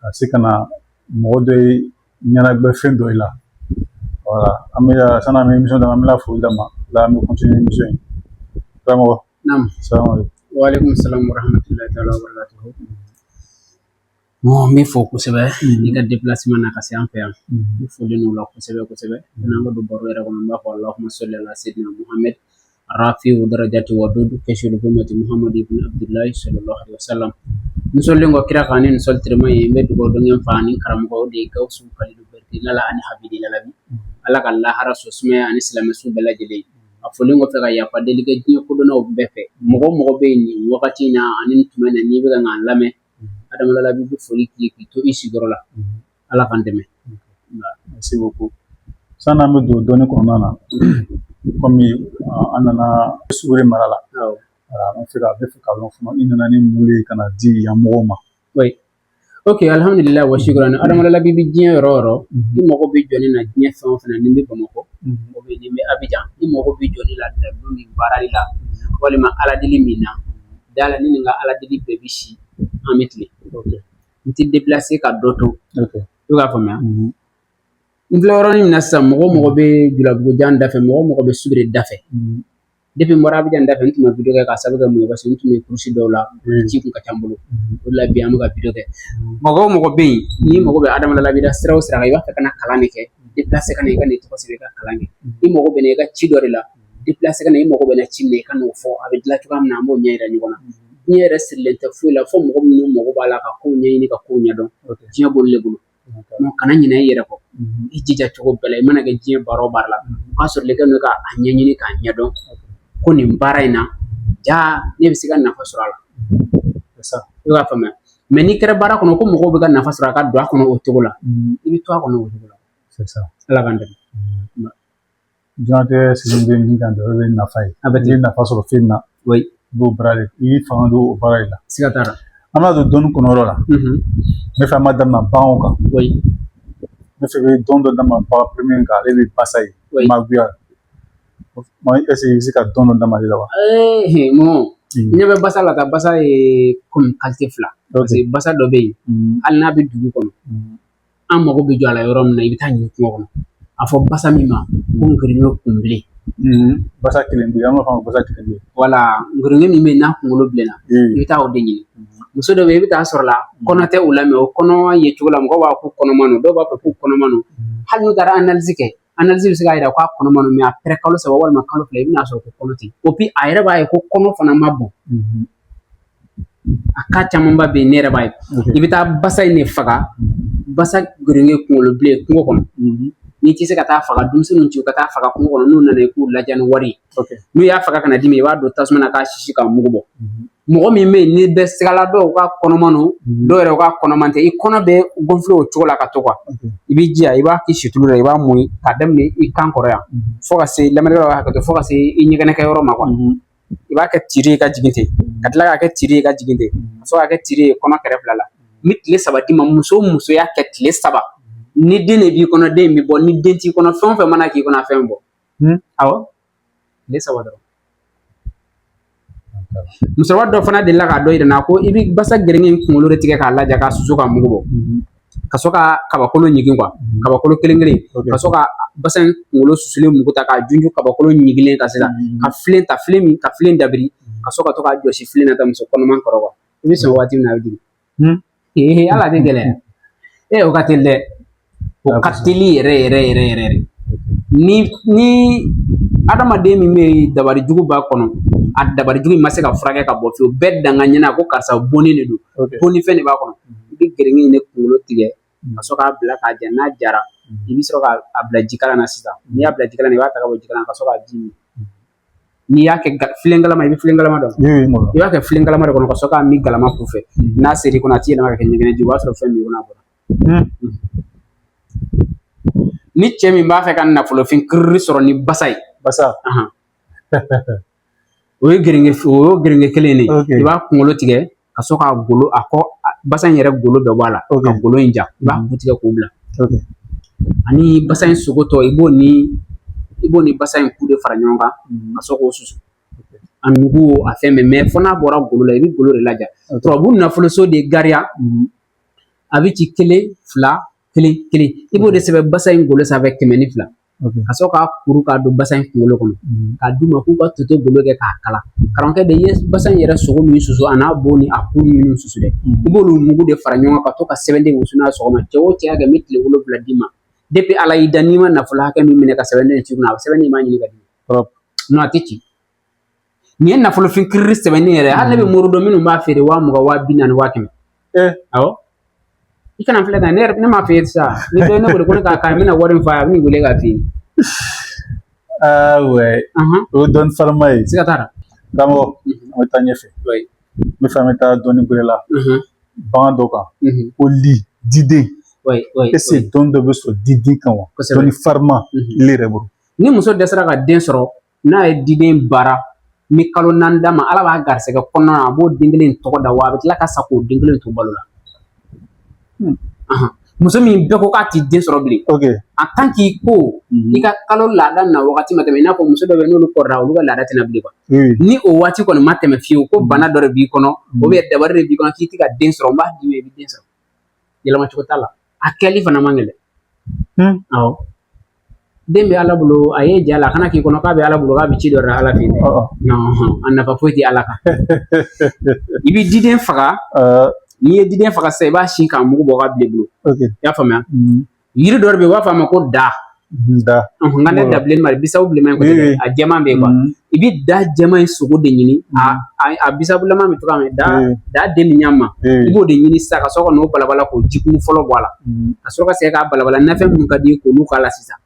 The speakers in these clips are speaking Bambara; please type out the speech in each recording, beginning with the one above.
ka se ka na mɔgɔ dɔw ɲɛnagbɛ fɛn dɔw la wala an bɛ sani an bɛ emisɔn daminɛ an bɛna foli daminɛ an bɛ kɔntiniye emisɔn in karamɔgɔ naamu salamu aleykum waaleykum salamu warahmatulahi taala wabarakatuhu n b'i fo kosɛbɛ n'i ka depilaseman na ka se an fɛ yan n foli n'o la kosɛbɛ kosɛbɛ n'an ka don baro yɛrɛ kɔnɔ n b'a fɔ alahuma sɔli ala sedina muhamɛd rafiu darajati wa dudu kasiful gumati muhammadu ibn abdullahi sallallahu alaihi wasallam n sɔlilen kɔ kira kan ni nin sɔli tirima ye n bɛ dugawu don n fa ni karamɔgɔ o de ye gawusu kalilu bɛrite lala ani habidi lalabi ala ka lahara so sumaya ani silamɛ su bɛɛ lajɛlen a fɔlen kɔfɛ ka yafa deli kɛ diɲɛ kodɔnnaw bɛɛ fɛ mɔgɔ mɔgɔ bɛ yen nin wagati in na ani nin tuma in na n'i bɛ ka k'an lamɛn adama lalabi bɛ foli k'i k'i to i sigiyɔrɔ la ala k'an dɛmɛ merci beaucoup sanni an bɛ don dɔnni kɔnɔna na kɔmi an nana subiri mara la an bɛ fɛ ka lɔn fana i nana ni mun ye ka na di yan mɔgɔw ma ok alihamudulila wa shukurani adama lalabi bi diɲɛ yɔrɔ yɔrɔ i mago bɛ jɔ ne na diɲɛ fɛn o fɛn na ni n bɛ bamakɔ ni n bɛ abijan i mago bɛ jɔ ne la dalu min baarali la walima aladeli min na dala ni nin ka aladeli bɛɛ bi si an bɛ tilen n ti deplase ka dɔ to i k'a faamuya mhm. n filɛ yɔrɔnin min na sisan mɔgɔ mɔgɔ bɛ julabugujan dafɛ mɔgɔ mɔgɔ bɛ subiri dafɛ mhm. depi n bɔra abijan dafɛ n tun ma video kɛ k'a sabu kɛ mun ye parce que n tun bɛ kurusi dɔw la mhm. ci kun ka ca n bolo o de la bi an bɛ ka video kɛ mɔgɔ o mɔgɔ bɛ yen n'i mago bɛ adama lalabi la sira o sira kan i b'a fɛ ka na kalan de kɛ deplase ka na i ka n'i tɔgɔ sɛbɛn i ka kalan kɛ i mago bɛ na i ka ci dɔ de la deplase ka na i mago bɛ na ci min na i ka n'o fɔ a bɛ dilan cogoya min na an b'o ɲɛ yira ɲɔgɔn na diɲɛ yɛrɛ sirilen tɛ foyi la fo mɔgɔ minnu mago b'a la ka ko ɲɛɲini ka ko ɲɛdɔn diɲɛ b'olu de bolo kana ɲinɛ i yɛrɛ kɔ i jija cogo bɛɛ la i mana kɛ diɲɛ baara o baara la o k'a sɔrɔ i k'a ɲɛɲini k'a ɲɛdɔn ko nin baara in na ja ne bɛ se ka nafa sɔrɔ a la i b'a faamuya mɛ n'i kɛra baara kɔnɔ ko mɔgɔw bɛ ka nafa sɔrɔ a ka don a kɔnɔ o cogo la i bɛ to a kɔnɔ o cogo la ala k'an dɛmɛ diɲɛnatigɛ sigi bɛ min kan dɔrɔn o ye nafa ye a bɛ t'i nafa sɔrɔ fɛn na i b'o baara de i b'i fanga don o baara de la siga t'a la an bɛna don dɔnni kɔnɔ yɔrɔ la ne fɛ an b'a daminɛ baganw kan ne fɛ bɛ dɔn dɔ daminɛ bagan premier kan ale bɛ basa ye magoya ɛsike i bɛ se ka dɔn dɔ daminɛ ale la wa ɲɛ bɛ basa la ka basa ye komi kalite fila basa dɔ bɛ yen hali n'a bɛ dugu kɔnɔ an mago bɛ jɔ a la yɔrɔ min na i bɛ taa ɲini kungo kɔnɔ a fɔ basa min ma ko ngirinɛ kunbilen mm-hmm. basa kunbilen an b'a fɔ basa kunbilen wala ngirinɛ min bɛ n'a kunkolo bilenna mm. i bɛ taa o de ɲini mm-hmm. muso dɔ bɛ i bɛ taa sɔrɔ la mm-hmm. kɔnɔ tɛ u la mɛ o kɔnɔ ye cogo la mɔgɔ b'a fɔ ko kɔnɔma don dɔw b'a fɔ ko kɔnɔma don hali n'u taara analizi kɛ a yira k'a kɔnɔma don mɛ apɛrɛ kalo saba walima kalo fila i bɛna sɔrɔ ko kɔnɔ tɛ epi a yɛrɛ b'a ye ko kɔnɔ fana ma bon a ka camanba bɛ yen ne yɛrɛ b'a ye i bɛ taa basa in de faga basa gɛrɛngɛ kunkolo bilen kungo kɔnɔ n'i tɛ se ka taa faga denmisɛnninw ci ka taa faga kungo kɔnɔ n'u nana i k'u ladiya ni wari ye n'u y'a faga ka na d'i ma i b'a don tasuma na k'a sisi k'a mugu bɔ mɔgɔ min bɛ yen n'i bɛ siga la dɔw k'a kɔnɔma don mhm. dɔw yɛrɛ k'a kɔnɔma tɛ i kɔnɔ bɛ gonfile o cogo la ka to kuwa mhm. i b'i jija i b'a k'i situlu la i b'a mun k'a daminɛ i kan kɔrɔ yan mhm. fo ka se lamɛnnikɛlaw b'a hakɛto fo ka se i ɲɛgɛnɛkɛyɔrɔ ma kuwa i b'a kɛ tiri ye ka jigin ten ka tila k'a kɛ tiri ye ka jigin ten ka sɔrɔ k'a kɛ tiri ye kɔnɔ kɛrɛ fila la n bɛ tile saba d'i ma muso o muso y'a kɛ tile saba ni den de b'i kɔnɔ den bɛ bɔ ni den t'i kɔnɔ fɛn o fɛn mana k'i kɔnɔ a fɛn bɔ awɔ tile saba dɔrɔn musokɔrɔba dɔ fana delila k'a dɔ yira n na ko i bɛ basa gɛrɛngɛ in kunkolo de tigɛ k'a laja k'a susu k'a mugu bɔ mhm. ka sɔrɔ ka kabakolo ɲigin kuwa mhm. kabakolo kelen kelen ka sɔrɔ ka basa in kunkolo susulen mugu ta k'a junju kabakolo ɲigilen kan sisan mhm. ka filen ta filen min ka filen dabiri ka sɔrɔ ka to k'a jɔsi filen na ta muso kɔnɔman kɔrɔ kuwa i bɛ sɔn waati min na a bɛ jigin ee ala de gɛlɛya ee o ka teli dɛ o ka teli yɛrɛ yɛrɛ yɛrɛ yɛrɛ ni ni adamaden min bɛ dabali jugu b'a kɔnɔ a dabali jugu ma se ka furakɛ ka bɔ fiyewu bɛɛ danga ɲɛna a ko karisa bonni de don bonni fɛn de b'a kɔnɔ i bɛ gɛrɛngɛ in de kunkolo tigɛ ka sɔrɔ k'a bila k'a ja n'a jara i bɛ sɔrɔ k'a bila jikalan na sisan n'i y'a bila jikalan na i b'a ta ka bɔ jikalan na ka sɔrɔ k'a ji min n'i y'a kɛ filen galama i bɛ filen galama dɔn i b'a kɛ filen galama de kɔnɔ ka sɔrɔ k'a min galama kun fɛ hmm. n'a ser'i kɔnɔ a t'i yɛlɛma ka kɛ ɲɛgɛnɛ ye o b'a sɔrɔ fɛn min kɔnɔ a bɔra hmm. Hmm. ni cɛ min b'a fɛ ka nafolofin kiriri sɔrɔ ni basa ye basa o ye gɛrɛngɛ o ye gɛrɛngɛ kelen de ye i b'a kunkolo tigɛ ka sɔrɔ ka golo a kɔ basa in yɛrɛ golo bɛɛ bɔ a la ka golo in ja i b'a ku tigɛ k'o bila ani basa in sogo tɔ i b'o ni i b'o ni basa in ku de fara ɲɔgɔn kan ka sɔrɔ k'o susu a nugu a fɛn bɛɛ mɛ fo n'a bɔra golo la i bɛ golo de laja tubabu nafoloso de gariya a bɛ ci kelen fila kelen kelen i b'o de sɛbɛn basa in golo sanfɛ kɛmɛ ni fila ka sɔrɔ k'a kuru k'a don basa in kunkolo kɔnɔ k'a d'u ma k'u ka toto golo kɛ k'a kala karamɔgɔkɛ de ye basa in yɛrɛ sogo min susu a n'a bo ni a kuru minnu susu dɛ i b'olu mugu de fara ɲɔgɔn kan ka to ka sɛbɛnden wusu n'a sɔgɔma cɛ o cɛ y'a kɛ n bɛ tile wolonwula d'i ma depi ala y'i da n'i ma nafolo hakɛ min minɛ ka sɛbɛnden ci kunna a sɛbɛnden m'a ɲini ka di nɔn a tɛ ci Nin ye nafolofin kirili sɛbɛnni yɛrɛ hali ne bɛ mori dɔn minnu b'a feere waa mugan waa bi naani waa kɛmɛ awɔ i kana filɛ ka ne yɛrɛ ne m'a f'i ye sa ni dɔ ye ne wele ko ne k'a k'a ye n bɛna wari min f'a ye a bɛ n'i wele k'a f'i ye o ye dɔnni farima ye siga t'a la karamɔgɔ an bɛ taa ɲɛfɛ n b'a fɛ an bɛ taa dɔnni gɛrɛ la bagan dɔ kan ko li diden est-ce que dɔnni dɔ bɛ sɔrɔ diden kan wa dɔnni farima le yɛrɛ bolo ni muso dɛsɛra ka den sɔrɔ n'a ye diden baara n bɛ kalo naani d'a ma ala b'a garisɛgɛ kɔnɔna na a b'o den kelen tɔgɔ da wa a bɛ tila ka sa k'o den kelen to balo la hmm. muso min bɛɛ ko k'a tɛ den sɔrɔ bilen en tant que ko mhm. i ka kalo laada na wagati ma tɛmɛ i n'a fɔ muso dɔ bɛ n'olu kɔrɔla olu ka laada tɛ na bilen kuwa ni o waati kɔni ma tɛmɛ fiyewu ko mhm. bana dɔ de b'i kɔnɔ mhm. ou bien dabali de b'i kɔnɔ k'i tɛ ka den sɔrɔ n b'a d'i ma i bɛ den sɔrɔ yɛlɛma cogo t'a la a kɛli fana man gɛlɛn hmm. awɔ den bɛ ala bolo a ye ja la a kana k'i kɔnɔ k'a bɛ ala bolo k'a bɛ ci dɔ de la ala fɛ yen oh, oh. a nafa foyi tɛ ala kan i bɛ diden faga uh. n'i ye diden faga sisan i b'a si k'a mugu bɔ k'a bila i bolo i y'a faamuya hmm. yiri dɔ de bɛ yen u b'a fɔ a ma ko da Da. Nka ne da bilennin ma bisabu bilenman ko tɛ a jɛman bɛ yen kuwa i bɛ da jɛman in sogo de ɲini a bisabulama min tora da da den min ɲa ma i b'o de ɲini sisan ka sɔrɔ ka n'o balabala k'o ji kumu fɔlɔ bɔ a la ka sɔrɔ ka segin k'a balabala nafɛn minnu ka di i ye k'olu k'a la sisan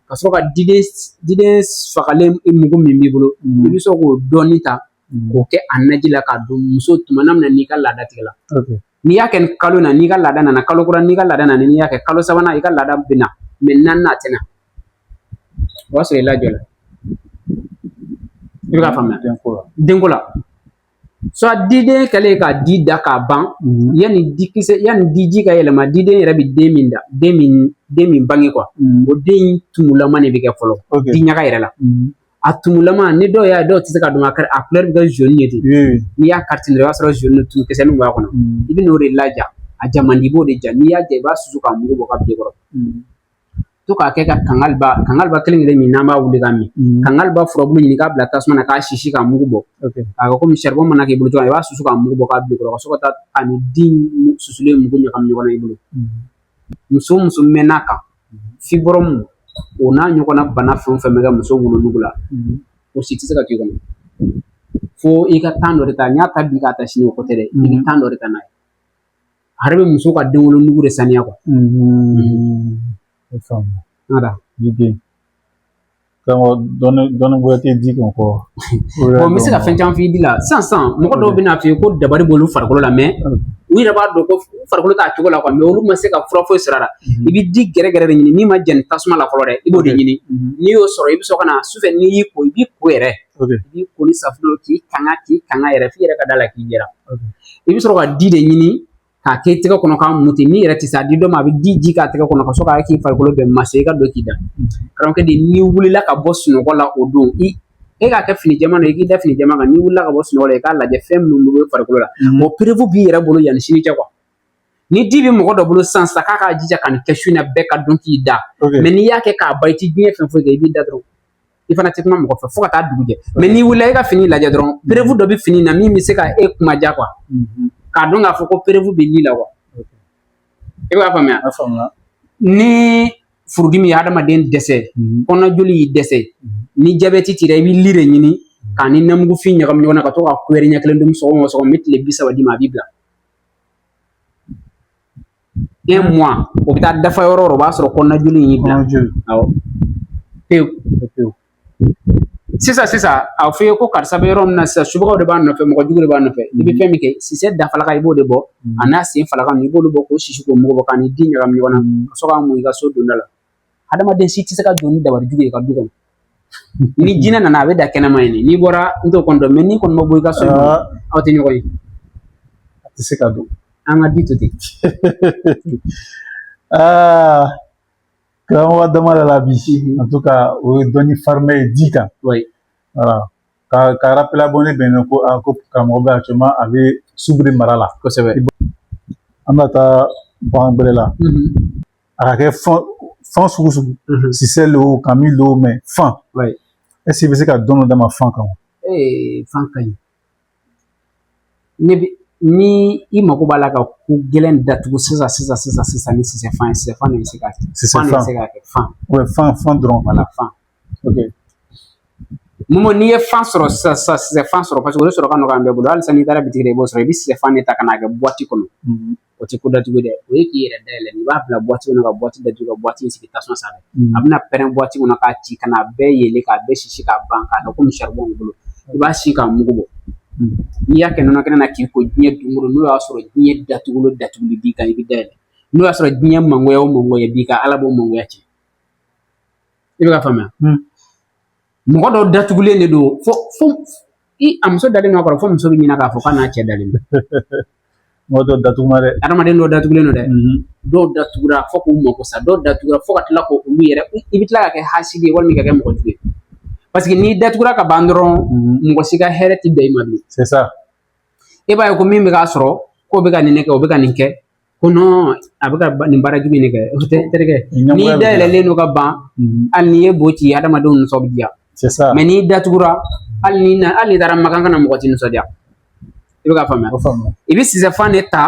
ka sɔrɔ ka diden fagalen mugu min b'i bolo i bɛ sɔrɔ k'o dɔɔnin ta k'o kɛ a naji la k'a dun muso tuma na n'i ka laada tigɛla n'i y'a kɛ nin kalo na n'i ka laada nana kalo kura n'i ka laada nana n'i y'a kɛ kalo sabanan i ka laada bɛ na mɛ naaninan a tɛ na o b'a sɔrɔ i lajɔla i bɛ k'a faamuya denko la denko la soit diden kɛlen ka di da k'a ban mhm. yanni dikisɛ yanni diji ka yɛlɛma diden yɛrɛ bɛ den min da den min den min bange kuwa mhm. o den tumulama de bɛ kɛ fɔlɔ di ɲaga yɛrɛ la mhm. a tumulamanin dɔw y'a dɔw tɛ se k'a dɔn a kari a kulɛri bɛ kɛ zoni ye ten n'i y'a kari ten dɔrɔn i b'a sɔrɔ zoni tumu kisɛnin b'a kɔnɔ i bɛ n'o de laja a ja man di b'o de ja n'i y'a ja i b'a susu k'a mugu bɔ k'a bila i kɔrɔ to k'a kɛ ka kangaliba kangaliba kelen kelen min n'an b'a wuli k'a min kangaliba furabulu ɲini k'a bila tasuma na k'a sisi k'a mugu bɔ k'a kɛ komi saribɔn mana k'i bolo cogo min i b'a susu k'a mugu bɔ k'a bila i kɔrɔ ka sɔrɔ ka taa a ni den susulen mugu ɲagami ɲɔgɔn na i bolo muso o muso mɛnna a kan fibrɔmu o n'a ɲɔgɔnna bana fɛn o fɛn bɛ kɛ muso wolonugu la o si tɛ se ka k'i kɔnɔ fo i ka tan dɔ de ta n y'a ta bi k'a ta sini o ko tɛ dɛ i bɛ tan dɔ de ta n'a ye a yɛrɛ bɛ muso ka den wolonugu de saniya kuwa n bɛ se ka fɛn caman f'i di la sisan sisan mɔgɔ dɔw bɛ n'a f'i ye ko dabali b'olu farikolo la mɛ u yɛrɛ b'a dɔn ko farikolo t'a cogo la kuwa olu ma se ka fura foyi sɔrɔ a la i bɛ di gɛrɛgɛrɛ de ɲini min ma jɛni tasuma la fɔlɔ dɛ i b'o de ɲini n'i y'o sɔrɔ i bɛ sɔrɔ ka na sufɛ n'i y'i ko i b'i ko yɛrɛ k'i ko ni safunɛ k'i kanga k'i kanga yɛrɛ f'i yɛrɛ ka d'a la k'i jɛra i bɛ sɔrɔ ka di de ɲini k'a k'i tɛgɛ kɔnɔ k'a muti n'i yɛrɛ tɛ se a di dɔ ma a bɛ di ji k'a tɛgɛ kɔnɔ ka sɔrɔ k'a k'i farikolo bɛɛ mase i ka don k'i da karamɔgɔkɛ de n'i wulila ka bɔ sunɔgɔ la o don i e k'a kɛ fini jɛman na i k'i da fini jɛman kan n'i wulila ka bɔ sunɔgɔ la i k'a lajɛ fɛn minnu bɛ farikolo la mɔgɔ mm. perewu b'i yɛrɛ bolo yanni sini cɛ ni di bɛ mɔgɔ dɔ bolo sisan sa k'a k'a jija ka nin kɛ su in na bɛɛ ka don k'i da mɛ n'i y'a kɛ k'a ban i ti diɲɛ fɛn foyi kɛ i b'i da dɔrɔn i fana tɛ kuma mɔgɔ fɛ fo ka taa dugu jɛ mɛ n'i wulila i ka fini lajɛ dɔrɔn perewu dɔ bɛ fini na min bɛ se ka e kuma ja kuwa mhm. k'a dɔn k'a fɔ ko perewu bɛ li la kuwa i bɛ k'a faamuya ni furudimi ye adamaden dɛsɛ mhm. kɔnɔna joli y'i dɛsɛ mhm. ni jabɛti t'i la i bɛ li de ɲini k'a ni namugufin ɲagami ɲɔgɔn na ka to ka kuyɛri ɲɛ kelen dun sɔgɔma o sɔgɔma n bɛ tile bi saba d'i ma a b'i bila un mois o bɛ taa dafa yɔrɔ o yɔrɔ o b'a sɔrɔ kɔnɔna joli in y'i bila awɔ pewu pewu sisan sisan a fɔ i ye ko karisa bɛ yɔrɔ min na sisan subagaw de b'a nɔfɛ mɔgɔ jugu de b'a nɔfɛ i bɛ fɛn min kɛ sisɛ dafalaka i b'o de bɔ an'a sen falaka i b'olu bɔ k'o sisi k'o mugu bɔ k'a ni di ɲagami ɲɔgɔn na ka sɔrɔ k'a mun i ka so donda la hadamaden si tɛ se ka don ni dabali jugu y'i ka du kɔnɔ ni jinɛ nana a bɛ da kɛnɛma yen n'i bɔra n t'o kɔni dɔn mɛ n'i kɔni ma bɔ i ka so aw tɛ ɲɔgɔn ye a tɛ se ka don an ka di to ten aa karamɔgɔ dama de la bi en tout cas o ye dɔnni fariman ye di kan wala ka ka rappeler abonné bɛɛ la ko a ko karamɔgɔ bɛ actuellement a bɛ subiri mara la kosɛbɛ an bɛ taa bagan bɛrɛ la a ka kɛ fan fan sugu sugu sisɛ lo kami lo o mɛ fan ɛseke i bɛ se ka dɔnni d'an ma fan kan wa fan ka ɲi ne bɛ ni i mago b'a la ka ko gɛlɛn datugu sisan sisan sisan sisan ni sisɛfan ye sisɛfan de bɛ se k'a kɛ sisɛfan se k'a kɛ fan fan fan dɔrɔn wala fan Momo n'i ye fan sɔrɔ sisan sisan sisɛfan sɔrɔ paseke o de sɔrɔ ka nɔgɔ an bɛɛ bolo halisa n'i taara bitigi la i b'o sɔrɔ i bɛ sisɛfan de ta ka n'a kɛ buwati kɔnɔ o tɛ ko datugu dɛ o ye k'i yɛrɛ dayɛlɛ i b'a bila buwati kɔnɔ ka buwati datugu ka buwati in sigi tasuma sanfɛ a bɛna pɛrɛn buwati kɔnɔ k'a ci ka n'a bɛɛ yelen k'a bɛɛ sisi k'a ban k'a kɛ komi saribɔn b'i bolo i b'a si k'a mugu bɔ n'i y'a kɛ nɔnɔ kɛnɛ na k'i ko diɲɛ dunkolo n'o y'a sɔrɔ diɲɛ datuguli o datuguli b'i kan i bɛ dayɛlɛ n'o y'a sɔrɔ diɲɛ mangoya o mangoya b'i kan ala b'o mangoya cɛ i bɛ k'a faamuya mɔgɔ dɔ datugulen de don fo fo i a muso dalen don a kɔrɔ fo muso bɛ ɲina k'a fɔ k'a n'a cɛ dalen don mɔgɔ dɔ datuguma dɛ adamaden dɔ datugulen don dɛ mhm. dɔw datugura fo k'u mako sa dɔw datugura fo ka tila ko olu yɛrɛ i bɛ tila ka kɛ hasidi ye walima ka kɛ mɔgɔ jugu ye parce que n'i datugura ka ban dɔrɔn mhm. mɔgɔ si ka hɛrɛ tɛ bɛn i ma bilen e b'a ye ko min bɛ k'a sɔrɔ k'o bɛ ka nin ne kɛ o bɛ ka nin kɛ ko a bɛ ka nin baara jugu nin kɛ o tɛ terikɛ n'i dayɛlɛlen don ka ban hali n'i ye bo ci adamadenw nisɔn bɛ diya mais n'i datugura hali ni na hali n'i taara makan ka na mɔgɔ ti nisɔndiya i bɛ k'a faamuya i bɛ sisɛfan de ta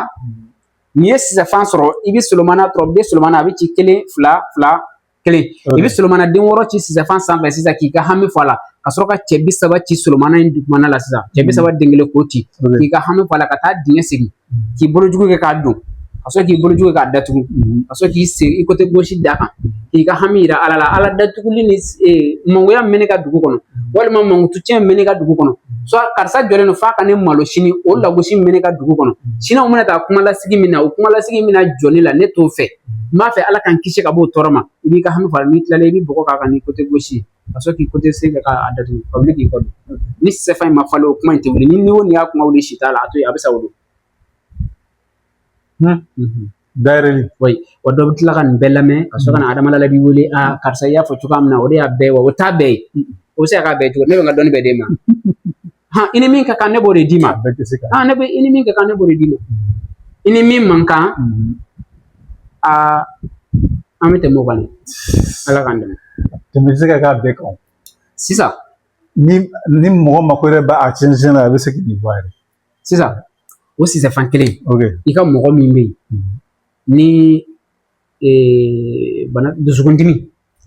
n'i ye sisɛfan sɔrɔ i bɛ solomana tɔrɔ i bɛ solomana a bɛ ci kelen fila fila kelen i bɛ solomana den wɔɔrɔ ci sisɛfan sanfɛ sisan k'i ka hami fɔ a la ka sɔrɔ ka cɛ bi saba ci solomana in dugumana la sisan cɛ bi saba den kelen k'o ci k'i ka hami fɔ a la ka taa dingɛ sen k'i bolojugu kɛ k'a don ka sɔrɔ k'i bolojugu kɛ k'a datugu ka sɔrɔ k'i sen i côté gauche d'a kan k'i ka hami yira ala la ala datuguli ni mangoya min bɛ ne ka dugu kɔnɔ walima mankutu cɛn min bɛ ne ka dugu kɔnɔ soit karisa jɔlen don f'a ka ne malo sini o lagosi min bɛ ne ka dugu kɔnɔ siniw mana taa kuma lasigi min na o kuma lasigi min na jɔ ne la ne t'o fɛ n b'a fɛ ala k'an kisi ka bɔ o tɔɔrɔ ma i b'i ka hami fɔ a la n'i tilala i bɛ bɔgɔ k'a kan ni côté gauche ka sɔrɔ k'i côté sen kɛ k'a datugu ka wuli k'i kɔ don ni sɛfan in ma falen o kuma in tɛ wuli ni ni o ni y'a kuma wuli si t'a la a to yen a bɛ sa o don dayɛlɛli ouais wa dɔ bɛ tila ka nin bɛɛ lamɛn ka sɔrɔ ka na adama la b'i wele a karisa i y'a fɔ cogoya min na o de y'a bɛɛ ye wa o t'a bɛɛ ye o bɛ se ka k'a bɛɛ cogo ne bɛ n ka dɔnni bɛɛ d'e ma hɔn i ni min ka kan ne b'o de d'i ma hɔn ne bɛ i ni min ka kan ne b'o de d'i ma i ni min man kan aa an bɛ tɛmɛ o kan ala k'an dɛmɛ tɛmɛ tɛ se ka k'a bɛɛ kan sisan ni ni mɔgɔ mako yɛrɛ b'a cɛnsin na a bɛ se k'i bɔ a yɛrɛ sisan o sisɛfan kelen i ka mɔgɔ min bɛ yen ni bana dusukundimi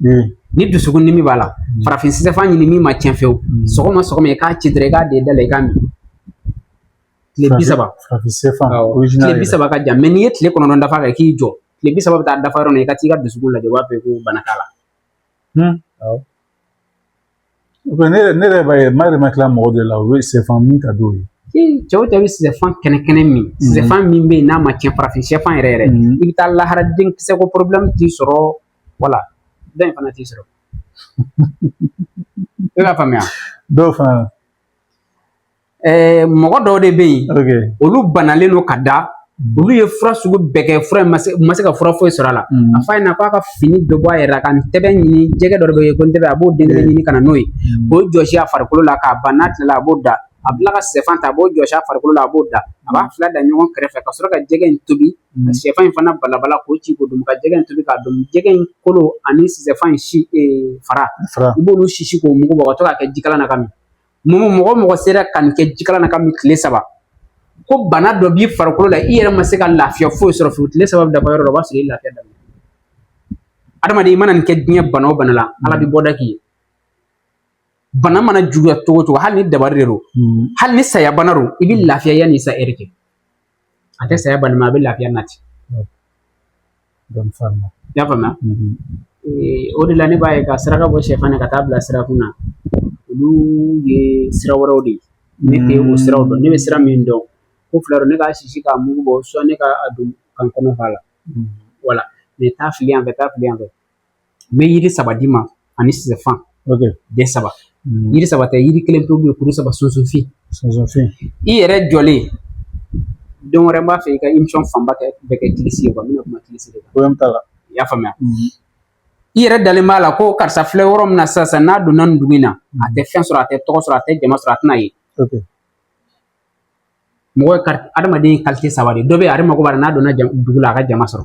hmm. ni dusukundimi b'a la hmm. farafin sisɛfan ɲini min ma tiɲɛ fewu hmm. sɔgɔma sɔgɔma i k'a ci dɔrɔn i k'a d'i da la i k'a min tile bi saba tile bi saba ka jan mais n'i ye tile kɔnɔntɔn dafa kɛ k'i jɔ tile bi saba bɛ taa dafa yɔrɔ min i ka t'i ka dusukun lajɛ o b'a fɔ ko bana t'a la ne yɛrɛ ne yɛrɛ b'a ye ma yɛrɛ ma kila mɔgɔ de la u bɛ sɛfan min ka d'o ye cɛ o cɛ bɛ sisɛfan kɛnɛ kɛnɛ min sisɛfan min bɛ yen n'a ma tiɲɛ farafin sɛfan yɛrɛ yɛrɛ i bɛ taa lahara denkisɛ ko problème t'i sɔrɔ wala dɔ in fana t'i sɔrɔ i b'a faamuya dɔw fana ɛɛ mɔgɔ dɔw de bɛ yen olu banalen don ka da olu ye fura sugu bɛɛ kɛ fura ma se ma se ka fura foyi sɔrɔ a la a f'a ɲɛ na k'a ka fini bɛɛ bɔ a yɛrɛ la ka ntɛbɛn ɲini jɛgɛ dɔ bɛ yen ko ntɛbɛn a b'o den kelen ɲini ka na n'o ye k'o jɔsi a farikolo la k'a ban n'a tilala a b'o da a bila ka sɛfan ta a b'o jɔsi a farikolo la a b'o da a b'a fila da ɲɔgɔn kɛrɛfɛ ka sɔrɔ ka jɛgɛ in tobi ka sɛfan in fana balabala k'o ci k'o dun ka jɛgɛ in tobi k'a dun jɛgɛ in kolo ani sɛfan in si fara i b'olu sisi k'o mugu bɔ ka to k'a kɛ jikalan na ka min mɔgɔ mɔgɔ mɔgɔ sera ka nin kɛ jikalan na k'a min tile saba ko bana dɔ b'i farikolo la i yɛrɛ ma se ka lafiya foyi sɔrɔ fiyewu tile saba bɛ dafa yɔrɔ dɔ o b'a sɔrɔ i lafiya daminɛ adamaden i mana nin kɛ diɲɛ bana o bana la ala bɛ bɔda k'i ye bana mana juguya cogo cogo hali ni dabari de don hali ni saya bana don i bɛ lafiya yanni i sa yɛrɛ cɛ a tɛ saya bali mɛ a bɛ lafiya nati i y'a faamuya o de la ne b'a ye ka saraka bɔ sɛfan na ka taa bila sirakun na olu ye sira wɛrɛw de ye ne tɛ o siraw dɔn ne bɛ sira min dɔn ko fila don ne k'a sisi k'a mugu bɔ suwa ne k'a dun ka n kɔnɔ fa la wala mɛ taa fili yan fɛ taa fili yan fɛ n bɛ yiri saba d'i ma ani sisɛfan den saba hmm. yiri saba tɛ yiri kelen pe bɛ kuru saba sunsunfin sunsunfin i yɛrɛ jɔlen don wɛrɛ b'a fɛ i ka imisɔn fanba kɛ bɛɛ kɛ kilisi ye kuwa n bɛna kuma kilisi de kan porobilɛmu t'a la i y'a faamuya hmm. i yɛrɛ dalen b'a la ko karisa filɛ yɔrɔ min na sisan n'a donna nin dugu in na a tɛ fɛn sɔrɔ a tɛ tɔgɔ sɔrɔ a tɛ jama sɔrɔ a tɛna ye mɔgɔ ka adamaden kalite saba de dɔ bɛ ale mago b'a la n'a donna dugu la a ka jama sɔrɔ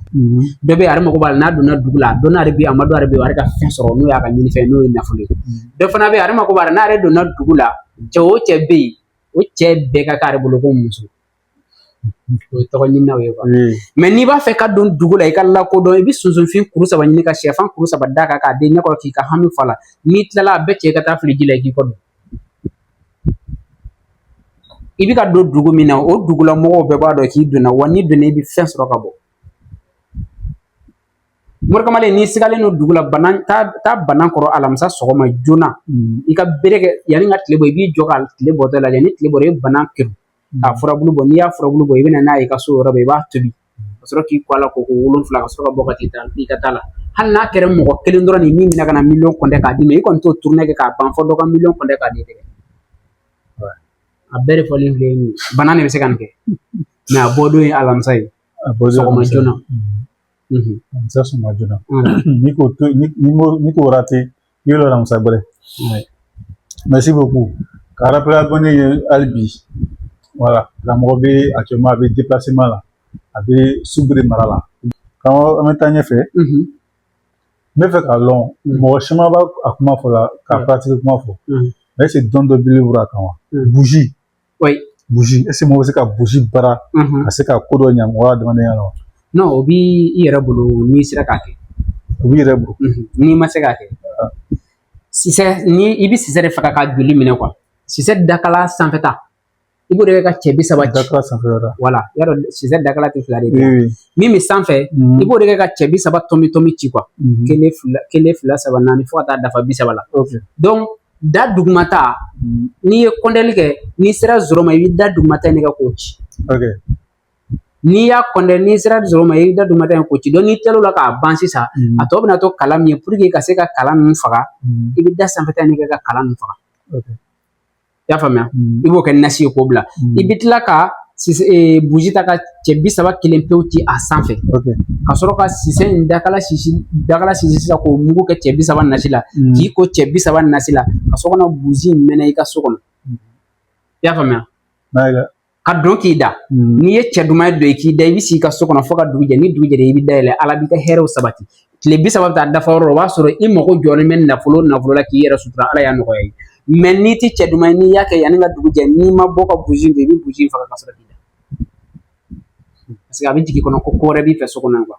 dɔ bɛ ale mago b'a la n'a donna dugu la a dɔnna ale bi a ma dɔn ale bɛ ale ka fɛn sɔrɔ n'o y'a ka ɲinifɛn n'o ye nafolo ye dɔ fana bɛ ale mago b'a la n'ale donna dugu la cɛ o cɛ bɛ yen o cɛ bɛɛ ka k'ale bolo ko muso o ye tɔgɔ ɲininaw ye mɛ n'i b'a fɛ ka don dugu la i ka lakodɔn i bɛ sunsunfin kuru saba ɲini ka sɛfan kuru saba d'a kan k'a d'i ɲɛkɔrɔ k'i ka hami f'a la n'i tilala a bɛɛ cɛ ka taa fili ji la i k'i kɔ don i bɛ ka don dugu min na o dugula mɔgɔw bɛɛ b'a dɔn k'i donna wa n'i donna i bɛ fɛn sɔrɔ ka bɔ morikamalen n'i sigalen don dugu la banan taa banan kɔrɔ alamisa sɔgɔma joona mm. i ka bere kɛ yanni ka tile bɔ i b'i jɔ ka tile bɔtɔ lajɛ ni tile bɔra i banan kerun k'a mm. furabulu bɔ n'i y'a furabulu bɔ i bɛ na n'a ye i ka so yɔrɔ bɛɛ i b'a tobi ka sɔrɔ k'i ko a la ko ko wolonwula ka sɔrɔ ka bɔ ka t'i ka taa la hali n'a kɛra mɔgɔ kelen dɔrɔn nin min bɛna ka na miliyɔn kɔntɛ k'a d'i ma i kɔni t'o turune kɛ k'a ban fo dɔ ka miliyɔn kɔntɛ k'a d'i tɛgɛ a bɛɛ de fɔlen filɛ nin ye banan de bɛ se ka nin kɛ mɛ a bɔdon ye alamisa ye a bɔ sɔgɔma joona alamisa sɔgɔma joona n'i ko n'i ko n'i k'o rate i ye lɔ alamisa gbɛrɛ mɛrisi boku k'a rapele abɔne ye hali bi wala karamɔgɔ bɛ akitiyɛliman a bɛ depilasema la a bɛ subiri mara la karamɔgɔ an bɛ taa ɲɛfɛ n bɛ fɛ k'a lɔn mɔgɔ caman b'a a kuma fɔ la k'a paratigi kuma fɔ mɛ ɛseke dɔn dɔ b'i bolo a kan wa burusi buji ɛsike mɔgɔ bɛ se ka buji baara ka se ka ko dɔ ɲɛ mɔgɔ adamadenya la wa nɔn o b'i yɛrɛ bolo n'i sera k'a kɛ o b'i yɛrɛ bolo n'i ma se k'a kɛ sisɛ ni i bɛ sisɛ de faga ka joli minɛ kuwa sisɛ dakala sanfɛta i b'o de kɛ ka cɛ bi saba dakala sanfɛta wala y'a dɔn sisɛ dakala tɛ fila de ye min bɛ sanfɛ i b'o de kɛ ka cɛ bi saba tɔmi tɔmi ci kuwa kelen fila kelen fila saba naani fo ka taa dafa bi saba la da dugumata n'i ye kɔndɛli kɛ n'i sera zoro ma i bɛ da dugumata in de kɛ k'o ci n'i y'a kɔndɛ n'i sera zoro ma i bɛ da dugumata in k'o ci donc n'i tilal'o la k'a ban sisan a tɔ bɛna to kala min ye puruke ka se ka kala ninnu faga i bɛ da sanfɛta in de kɛ ka kala ninnu faga i y'a faamuya i b'o kɛ nasi ye k'o bila i bɛ tila ka sisɛ ee buji ta ka cɛ bi saba kelen pewu ci a sanfɛ ka sɔrɔ ka sisɛ in dakala sisi dakala sisi sisan k'o mugu kɛ cɛ bi saba nasi la k'i ko cɛ bi saba nasi la ka sɔrɔ ka na buji in mɛnɛ i ka so kɔnɔ i y'a faamuya ka don k'i da n'i ye cɛ duman ye don i k'i da i bɛ si i ka so kɔnɔ fo ka dugu jɛ ni dugu jɛra i bɛ da yɛlɛ ala b'i ka hɛrɛw sabati tile bi saba bɛ taa dafa yɔrɔ o b'a sɔrɔ i mago jɔlen bɛ nafolo nafolo la k'i yɛrɛ sutura ala y'a nɔgɔya ye mɛ n'i tɛ cɛ duman ye n'i y'a kɛ yanni ka dugu jɛ n'i ma bɔ ka buji don i bɛ buji faga ka sɔrɔ k'i da paseke a bɛ jigin kɔnɔ ko ko wɛrɛ b'i fɛ so kɔnɔ kuwa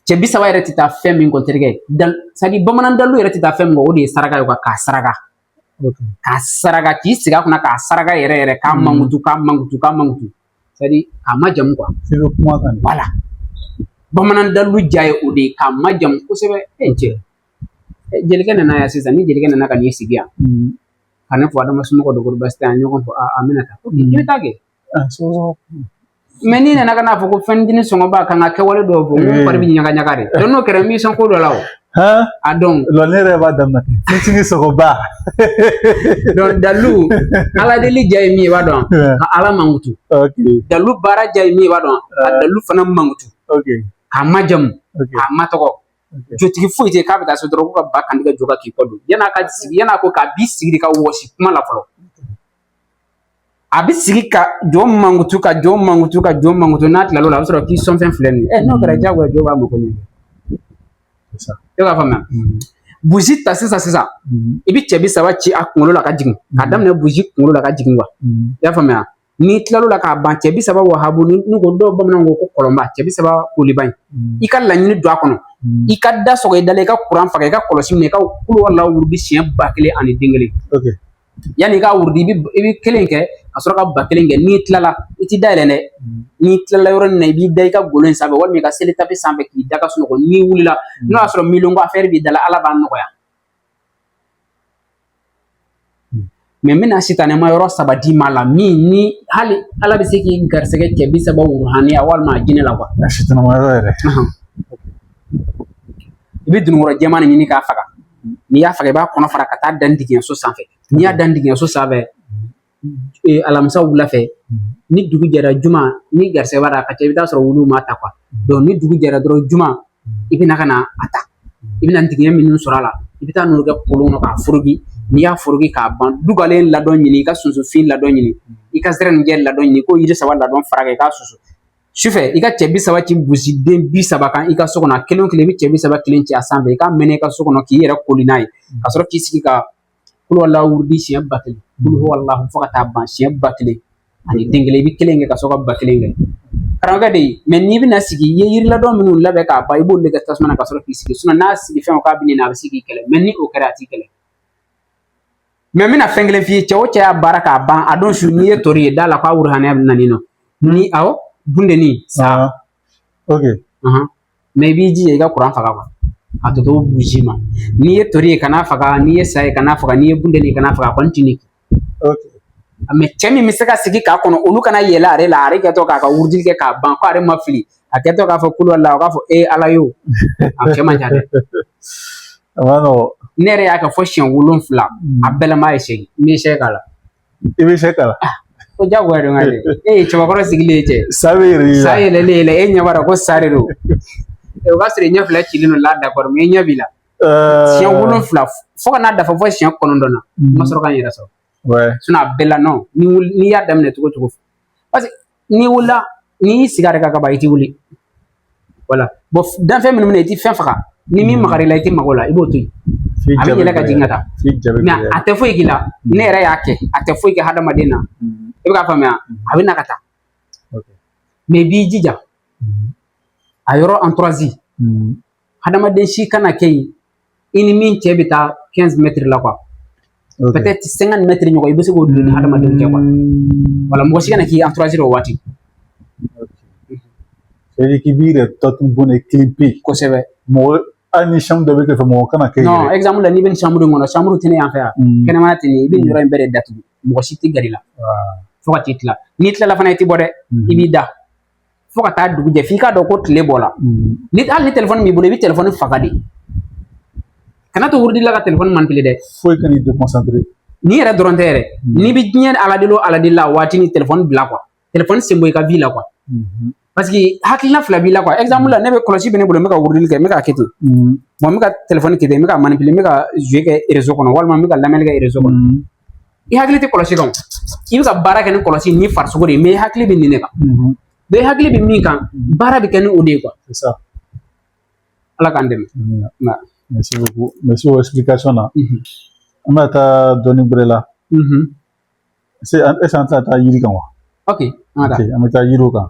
cɛ bi saba yɛrɛ tɛ taa fɛn min kɔ terikɛ dan sadi bamanan dalu yɛrɛ tɛ taa fɛn min kɔ o de ye saraka ye kuwa k'a saraka k'a saraka k'i sigi a kunna k'a saraka yɛrɛ yɛrɛ k'a mankutu k'a mankutu k'a mankutu sadi k'a majamu kuwa wala bamanan dalu ja ye o de ye k'a majamu kosɛbɛ e n cɛ jelikɛ nana yan sisan ni jelikɛ nana ka n'i sigi yan hmm. ka ne fo adama somɔgɔw don ko basi tɛ an ɲɔgɔn fo a bɛna taa i bɛ taa kɛ ah, mɛ n'i nana ka n'a fɔ ko fɛn dini sogoba ka n ka kɛwale dɔw fɔ n fari bɛ ɲaga ɲaga de donc n'o kɛra n b'i sɔn ko dɔ la o Han? A dɔn. Lɔ ne yɛrɛ b'a daminɛ ten. Fitini sogoba. Donc dalu ala deli ja ye min ye i b'a dɔn ka ala mankutu. Ok. Dalu baara ja ye min ye i b'a dɔn ka dalu fana mankutu. Ok. K'a majamu. Ok. K'a matɔgɔ. Jotigi foyi tɛ k'a bɛ taa so dɔrɔn ko ka ba kantigɛ jo kan k'i kɔ don yan'a ka sigi yan'a ko k'a b'i sigi de ka wɔsi kuma la fɔlɔ. a bɛ sigi ka jo mankutu ka jo mankutu ka jo mankutu n'a tilal'o la a bɛ sɔrɔ k'i sɔnfɛn filɛ nin ye n'o kɛra diyagoya jo b'a mako ɲɛ e b'a faamuya mm-hmm. buji ta sisan sisan mm-hmm. i bɛ cɛ bi saba ci a kunkolo la ka jigin k'a mm-hmm. daminɛ buji kunkolo la ka jigin kuwa i y'a faamuya n'i tilal'o la k'a ban cɛ bi saba wahabu n'u ko dɔw bamananw ko ko kɔlɔnba cɛ bi saba koliba in i ka laɲini don a kɔnɔ i ka da sɔgɔ i da la i ka kuran faga i ka kɔlɔsi minɛ i ka kuluwala wurudi siɲɛ ba kelen ani den kelen yanni i ka wurudi i bɛ i bɛ kelen kɛ ka sɔrɔ ka ba kelen kɛ n'i tilala i t'i da yɛlɛ dɛ n'i tilala yɔrɔ min na i b'i da i ka golo in sanfɛ walima i ka seli tapi sanfɛ k'i da ka sunɔgɔ n'i wulila n'o y'a sɔrɔ miliyɔn affaire b'i da la ala b'a nɔgɔya mais n bɛna sitanɛma yɔrɔ saba d'i ma la min ni hali ala bɛ se k'i garisɛgɛ cɛ bi saba wuruhaniya walima a jinɛ la quoi sitanɛma yɔrɔ yɛrɛ i bɛ dununkɔrɔ jɛman de ɲini k'a faga n'i y'a faga i b'a kɔnɔ fara ka t'a da ntigiɲɛ so sanfɛ n'i y'a da ntigiɲɛ so sanfɛ e, alamisa wula fɛ ni dugu jɛra juma ni garisɛgɛ b'a la a ka ca i bɛ t'a sɔrɔ wulu m'a ta quoi ni dugu jɛra dɔrɔn juma i bɛna ka na a ta i bɛna ntigiɲɛ minnu sɔrɔ a la i bɛ taa n'o kɛ kolon kɔnɔ k'a foroki n'i y'a foroki k'a ban dugalen ladɔn ɲini i ka sunsunfin ladɔn ɲini i ka zɛrɛnijɛ ladɔn ɲini k'o yiri saba ladɔn fara kan i k'a susu sufɛ i ka cɛ bi saba ci buji den bi saba kan i ka so kɔnɔ a kelen o kelen i bɛ cɛ bi saba kelen ci a sanfɛ i k'a mɛnɛ i ka so kɔnɔ k'i yɛrɛ koli n'a ye ka sɔrɔ k'i sigi ka kulu alahu wurudi siɲɛ ba kelen kulu alahu fo ka taa ban siɲɛ ba kelen ani den kelen i bɛ kelen kɛ ka sɔrɔ ka ba kelen kɛ karamɔgɔkɛ de ye mais n'i bɛna sigi i ye yiri ladɔn minnu labɛn k'a ban i b'olu de kɛ tasuma na ka sɔrɔ k'i sigi n'a sigi fɛn o k'a bɛ nin na a bɛ se k'i kɛlɛ mais ni o kɛra a t'i kɛlɛ Mais n bɛna fɛn kelen f'i ye cɛ o cɛ y'a baara k'a ban a don su n'i ye tori ye da la k'a wuruhaniya bɛ na ni nɔ ni awɔ bundeni sa ok mais i b'i jija i ka kuran faga quoi a tɔ to buji ma n'i ye tori ye kana faga n'i ye sa ye kana faga n'i ye bundeni ye kana faga a kɔni ti ne ok mais cɛ min bɛ se ka sigi k'a kɔnɔ olu ka na yɛlɛ ale la ale kɛtɔ k'a ka wurudili kɛ k'a ban ko ale ma fili a kɛtɔ k'a fɔ kulu ala o k'a fɔ e ala ye o a cɛ man ca dɛ ne yɛrɛ y'a kɛ fo siɲɛ wolonwula a bɛɛ la ye segin n bɛ sɛ k'a la i bɛ sɛ k'a la ah, ko jagoya don ka e ye cɛbakɔrɔ sigilen ye cɛ sa bɛ yɛlɛ sa yɛlɛlen i la e ɲɛ b'a la ko sa de don o b'a sɔrɔ i ɲɛ fila cilen don là d'accord mais i ɲɛ b'i la siɲɛ wolonwula fo ka n'a dafa fo siɲɛ kɔnɔntɔn na n ma sɔrɔ ka n yɛrɛ sɔrɔ a bɛɛ la n'i y'a daminɛ cogo o cogo parce que n'i wulila n'i y'i sigi a yɛrɛ kan ka ban i ti wuli voilà bon danfɛn minnu bɛ na i ti fɛn faga ni min magar'i la i ti mag'o la i b'o to yen a bɛ yɛlɛ ka jigin ka taa mais a tɛ foyi k'i la ne yɛrɛ y'a kɛ a tɛ foyi kɛ hadamaden na i bɛ k'a faamuya a bɛ na ka taa mais i b'i jija a yɔrɔ entourage hadamaden si kana kɛ yen i ni min cɛ bɛ taa quinze mètres la quoi peut-être cinquante mètres ɲɔgɔn i bɛ se k'o don i ni hadamadenw cɛ quoi voilà mɔgɔ si kana k'i entourage o waati k'i b'i yɛrɛ tatu bɔn ne kelen pe kosɛbɛ mɔgɔ hali ni chambre dɔ bɛ kɛrɛfɛ mɔgɔ kana kɛ non exemple la n'i bɛ nin chambre in kɔnɔ chambre tɛ ne yan fɛ yan kɛnɛmana tɛ ne i bɛ nin yɔrɔ in bɛɛ de datugu mɔgɔ si tɛ gɛrɛ i la fo ka t'i tila n'i tilala fana i tɛ bɔ dɛ i b'i da fo ka taa dugu jɛ f'i k'a dɔn ko tile bɔra mm. ni hali ni telefɔni b'i bolo i bɛ telefɔni faga de kana to wurudi la ka telefɔni manipulé dɛ foyi kana i déconcentré ni yɛrɛ dɔrɔn tɛ yɛrɛ mm. n'i bɛ diɲɛ aladeli o aladeli la waati ni telefɔni bila quoi telefɔni sen bɔ i ka vie la quoi mm-hmm. parce que hakilina fila b'i la quoi exemple la ne bɛ kɔlɔsi bɛ ne bolo n bɛ ka wurudili kɛ n bɛ k'a kɛ ten mm. wa n bɛ ka telefɔni kɛ ten n bɛ ka manipulé n bɛ ka jouer kɛ réseau kɔnɔ walima n bɛ ka lamɛnni kɛ réseau kɔnɔ i hakili tɛ kɔlɔsi kan i bɛ ka baara kɛ ni kɔlɔsi ni farisogo de ye mais i hakili bɛ nin de kan donc i hakili bɛ min kan baara bɛ kɛ ni o de ye quoi ala k'an dɛmɛ merci beaucoup merci o explication na an bɛna taa dɔnni gbɛrɛ la est ce que an tɛna taa yiri kan wa ok an ka an bɛ taa yiriw kan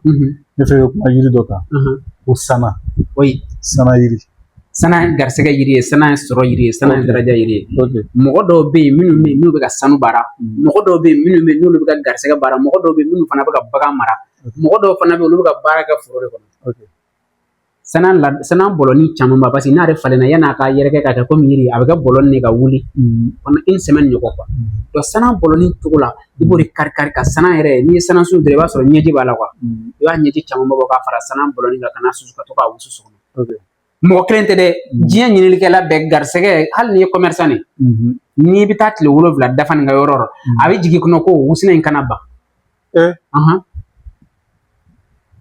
ne fɛ kuma yiri dɔ kan ko sana o ye sana yiri sana garisɛgɛ yiri ye sana ye sɔrɔ yiri ye sana daraja yiri ye mɔgɔ dɔw bɛ yen minnu bɛ yen n'u bɛ ka sanu baara mɔgɔ dɔw bɛ yen minnu bɛ yen n'olu bɛ ka garisɛgɛ baara mɔgɔ dɔw bɛ yen minnu fana bɛ ka bagan mara mɔgɔ dɔw fana bɛ yen olu bɛ ka baara kɛ foro de kɔnɔ sanan la sanan bɔlɔni caman ba parce que n'ale falenna yan'a ka yɛrɛkɛ ka kɛ komi yiri a bɛ kɛ bɔlɔni de ka wuli pendant une semaine ɲɔgɔn quoi donc sanan bɔlɔni cogo la i b'o de kari kari ka sanan yɛrɛ n'i ye sanan sun dɔrɔn i b'a sɔrɔ ɲɛji b'a la i b'a ɲɛji caman bɔ k'a fara sanan bɔlɔni kan ka n'a susu ka to k'a wusu sɔgɔma mɔgɔ kelen tɛ dɛ diɲɛ ɲininikɛla bɛɛ garisɛgɛ hali n'i ye commerçant de n'i bɛ taa tile wolonfila dafa nin ka yɔrɔ la a bɛ jigin kɔnɔ ko wusulan in kana ban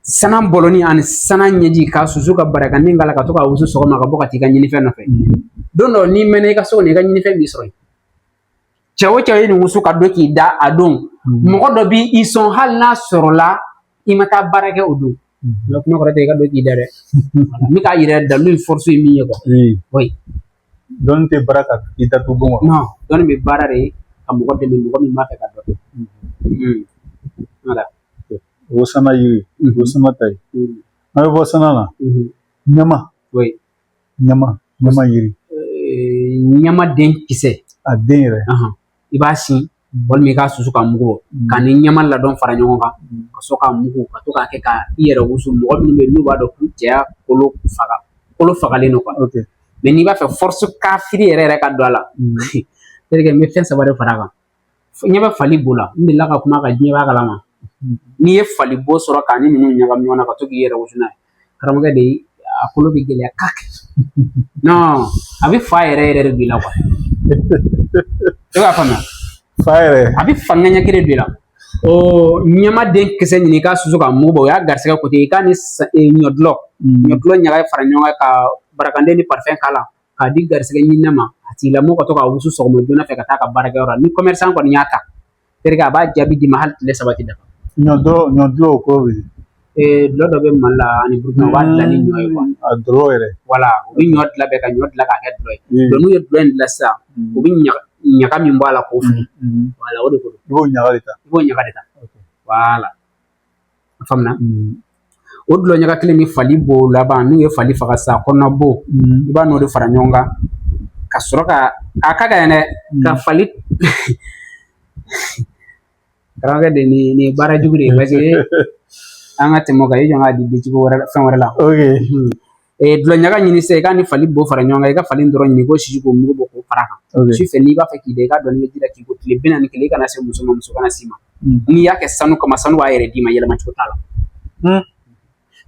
sanan bɔlɔni ani sanan ɲɛji k'a susu ka barakanden k'a la ka to k'a wusu sɔgɔma ka bɔ ka t'i ka ɲinifɛn nɔfɛ mm. don dɔ n'i mɛnna i ka so kɔnɔ i ka ɲinifɛn b'i sɔrɔ yen cɛ o cɛ ye nin wusu ka don k'i da a don mm. mɔgɔ dɔ b'i sɔn hali n'a sɔrɔla i ma taa baara kɛ o don mm. kuma kɔrɔ tɛ i ka don k'i da dɛ n bɛ k'a yira dalu in force ye min ye quoi dɔnni tɛ baara ka i datugu bon kɔnɔ dɔnni bɛ baara de ka mɔgɔ dɛmɛ mɔgɔ min b'a fɛ k'a dɔn voilà o sana yiri o sana ta ye an bɛ bɔ sana na ɲama ɲama ɲama yiri ɲama den kisɛ a den yɛrɛ i b'a sin walima i k'a susu k'a mugu bɔ mm. k'a ni ɲama ladɔn fara ɲɔgɔn kan mm. ka sɔrɔ k'a mugu ka to k'a kɛ ka i yɛrɛ wusu mɔgɔ minnu bɛ yen n'u b'a dɔn k'u cɛya kolo faga kolo fagalen don quoi mais n'i b'a fɛ force kafiri yɛrɛ yɛrɛ ka don a la mm. c'est-à-dire que n bɛ fɛn saba de fara a kan ɲɛ bɛ fali bo la n delila ka kuma ka diɲɛ b'a kalama n'i ye fali bo sɔrɔ k'a ni ninnu ɲagami ɲɔgɔn na ka to k'i yɛrɛ wusu n'a ye karamɔgɔkɛ de a kolo bɛ gɛlɛya kaki non a bɛ fa yɛrɛ yɛrɛ de don i la quoi e b'a faamuya fa yɛrɛ a bɛ fangaya kelen de don i la ɔ ɲama den kisɛ ɲini k'a susu k'a mugu bɔ o y'a garisɛgɛ côté i k'a ni ɲɔdulɔ ɲɔdulɔ ɲaga fara ɲɔgɔn kan ka barakanden ni parifɛn k'a la k'a di garisɛgɛ ɲinina ma a tigilamɔgɔ ka to k'a wusu sɔgɔma joona fɛ ka taa a ka baarakɛyɔrɔ la ni commerçant kɔni y'a ta terikɛ a b'a jaabi d'i ma hali tile saba ti dafa ɲɔ dɔ ɲɔ dulɔ o ko bi ee dulɔ dɔ bɛ mali la ani burukina u b'a dilan ni ɲɔ ye quoi a dulɔ yɛrɛ voilà u bɛ ɲɔ dilan bɛɛ ka ɲɔ dilan k'a kɛ dulɔ ye Mm. donc n'u ye dulɔ in dilan sisan u bɛ ɲaga ɲaga min bɔ a la k'o fili voilà o de ko don i b'o ɲaga de ta i b'o ɲaga de ta voilà a faamuna o dulɔ ɲaga kelen ni fali bo laban n'u ye fali faga sa kɔnɔna bo i b'a n'o de fara ɲɔgɔn kan ka sɔrɔ ka a ka gɛlɛn dɛ ka fali karamɔgɔkɛ de nin nin ye baara jugu de ye parce que an ka tɛmɛ o kan i jɔ n k'a di cogo wɛrɛ fɛn wɛrɛ la dulɔ ɲaga ɲini sisan i k'a ni fali bo fara ɲɔgɔn kan i ka fali ntɔrɔn ɲini k'o sisi k'o mugu bɔ k'o fara kan su fɛ n'i b'a fɛ k'i da i ka dɔɔnin kɛ ji la k'i ko tile bi naani ni kelen i kana se muso ma muso kana s'i ma n'i y'a kɛ sanu kama sanu b'a yɛrɛ d'i ma yɛlɛma cogo t'a la